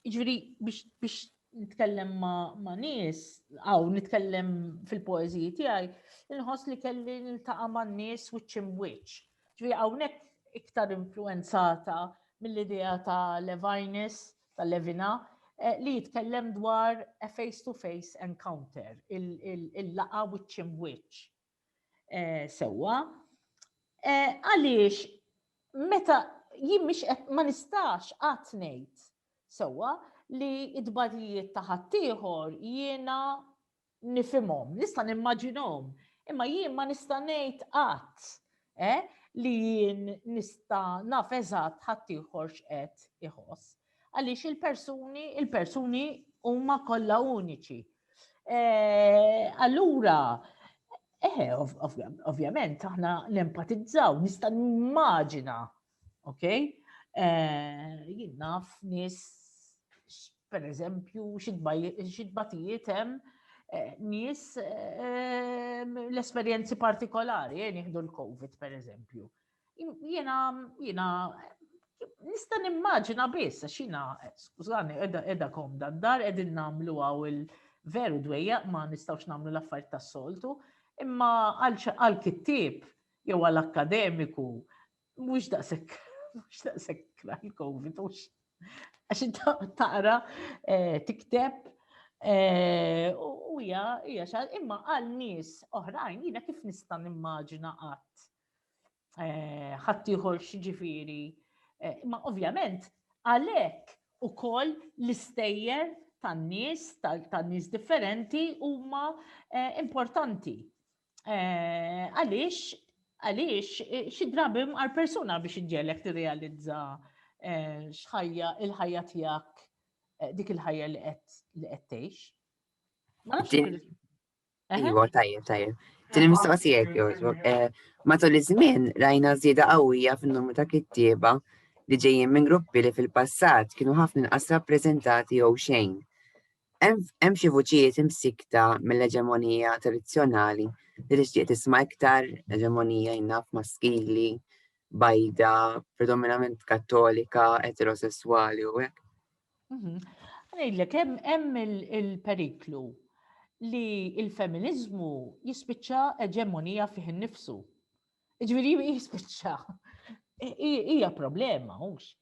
ġviri biex nitkellem ma' nies, għaw nitkellem fil-poeziji tiegħi, inħoss li kelli niltaqa' ma' nies which in which. Ġviri hawnhekk iktar influenzata mill-idea ta' Levinus, ta' Levina, eh, li jitkellem dwar a face-to-face encounter, il-laqa which in which. Sewwa, għaliex meta jien mhix ma nistax qatt ngħid sewwa li d-dbatijiet ta' ħaddieħor jiena nifhimhom, nista' nimmaġinhom, imma jien ma nista' ngħid qatt eh, li jien nista naf eżatt ħaddieħor x'qed iħoss. Għaliex il-persuni, il-persuni huma kollha uniċi. Eh, allura, eh, ovvjament, aħna nempatizzaw, nista' nimmaġina Ok? Eh, jien naf nis, per eżempju, xidbatijiet hemm eh, nis eh, l-esperjenzi partikolari, jien jihdu l-Covid, per eżempju. Jena, jena, nista nimmaġina biss, għax jena, skużani, edha, edha kom dan dar, edin namlu għaw il- veru dwejja ma nistawx namlu l-affarijiet tas-soltu, imma għal kittib jew għal akkademiku Mhux daqshekk, mhux daqshekk l-COVID, mhux. Għax inta taqra eh, tikteb eh, u hija hija xal imma għal nies oħrajn jiena kif nista' nimmaġina qatt eh, ħadd ieħor x'ġifieri. Imma ovvjament għalhekk ukoll l-istejjer tan-nies, tan-nies differenti huma eh, importanti. Eh, għaliex, għaliex, eh, xi drabi għal persuna biex iġġelek tirrealizza eh, xħajja il-ħajja tiegħek dik il-ħajja li qed tgħix. Ma Iwa, tajjeb, tajjeb. Din il-mistoqsija jogħġbok. Matul iż-żmien rajna żieda qawwija fin-numru ta' kittieba li ġejjin minn gruppi li fil-passat kienu ħafna inqas rappreżentati jew xejn. Hemm xi vuċijiet imsikkta mill-eġemonija tradizzjonali li tixtieq tisma' iktar eġemonija jnaf maskili, bajda, predominament kattolika, eterosesswali u hekk. Mhm. Ngħidlek hemm il-periklu li il-feminiżmu jispiċċa eġemonija fih innifsu. Ġifieri jispiċċa. Hija problema, hux.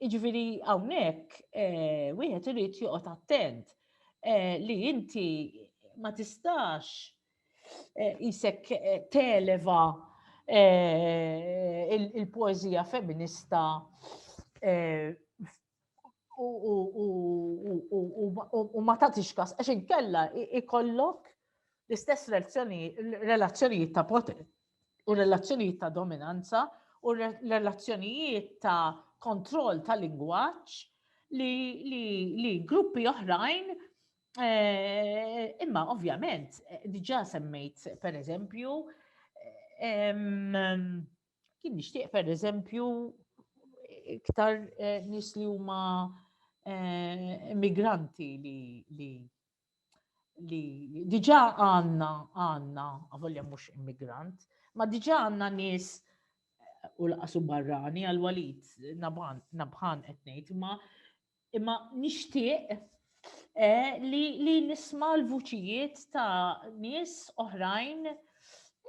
Jiġifieri hawnhekk wieħed irid joqgħod attent li inti ma tistax isek televa il-poeżija feminista u ma tagħtix kas għax inkella ikollok l-istess relazzjonijiet ta' u relazzjonijiet ta' dominanza u relazzjonijiet ta' kontroll ta' lingwaġġ li, li, li gruppi oħrajn eh, imma ovvjament eh, diġà semmejt per eżempju kien nixtieq per eżempju iktar eh, nis li huma immigranti li, li li diġa għanna għanna, għavolja mux immigrant, ma diġa għanna nis u laqasu barrani għal walid nabħan etnejt, ma imma nishtiq eh, li, li nisma l-vuċijiet ta' nis oħrajn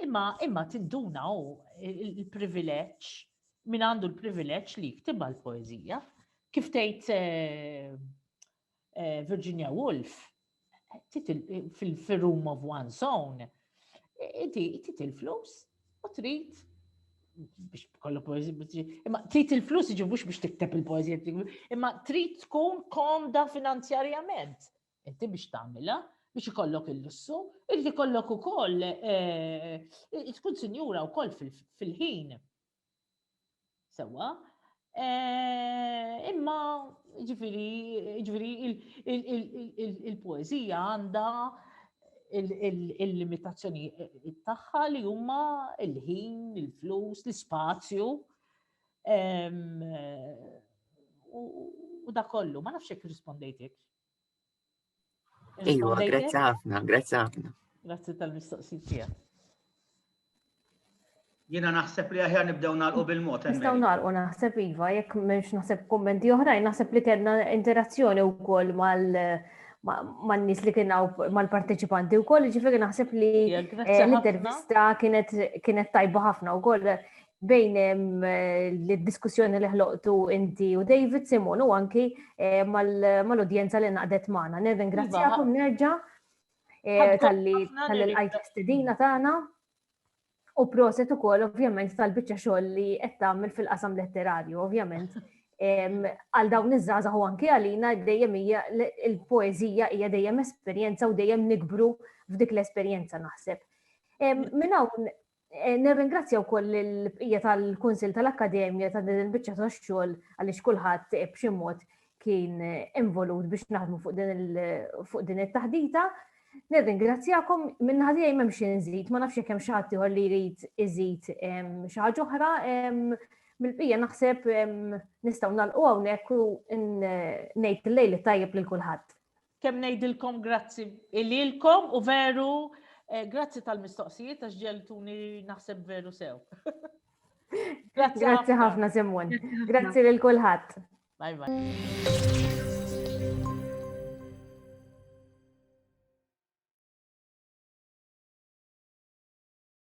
imma imma tinduna u il-privileċ min għandu l-privileċ li jktiba l-poezija. Kif tgħid eh, eh, Virginia Woolf, fil-room of one's own, inti tit il-flus u trid biex kollu poezija, imma trid il-flus iġi mhux biex tikteb il-poezija, imma trid tkun komda finanzjarjament. Inti biex tagħmilha, biex ikollok il-lussu, irrid ikollok ukoll eh, tkun sinjura wkoll fil-ħin. Sewwa, imma ġifiri, ġifiri il-poezija għandha il-limitazzjoni tagħha li huma il-ħin, il-flus, l-ispazju. U da kollu, ma nafx jekk rispondejtek. Iva, grazzi ħafna, grazzi ħafna. Grazzi tal-mistoqsijiet tiegħek. Jiena naħseb li aħjar nibdew nagħlqu bil-mod. Nistgħu nagħlqu naħseb iva, jekk m'hemmx naħseb kummenti oħrajn, naħseb li kellna interazzjoni wkoll mal man nies li kien mal-parteċipanti wkoll, ġifieri naħseb li eh, l-intervista kienet tajba ħafna wkoll bejn l-diskussjoni li ħloqtu inti u David Simon u anki eh, mal-udjenza li naqdet maħna. Neven, iva. grazzjakom nerġa eh, tal-li l-għajt stedina tagħna. U proset u kol, ovvjament, tal-bicċa xoll li għettamil fil-qasam letterarju, ovvjament. Għal dawn iż-żaza u anki għalina dejjem hija il-poezija hija dejjem esperjenza u dejjem nikbru f'dik l-esperjenza naħseb. Minn hawn Eh, nirringrazzja wkoll il-bqija tal-Kunsil tal-Akkademja ta' din il-biċċa tax-xogħol għaliex kulħadd b'xi mod kien involut biex naħdmu fuq din it-taħdita. Nirringrazzjakom minn ħadija jmem nżid, ma nafx kemm xi ħadd ieħor li jrid iżid xi ħaġa oħra mill-bqija naħseb nistgħu nagħlqu hawnhekk u ngħid lejl tajjeb lil kulħadd. Kemm ngħidilkom grazzi ililkom u veru eh, grazzi tal-mistoqsijiet għax ġeltuni naħseb veru sew. Grazzi ħafna Simon. Grazzi lil kulħadd. Bye bye.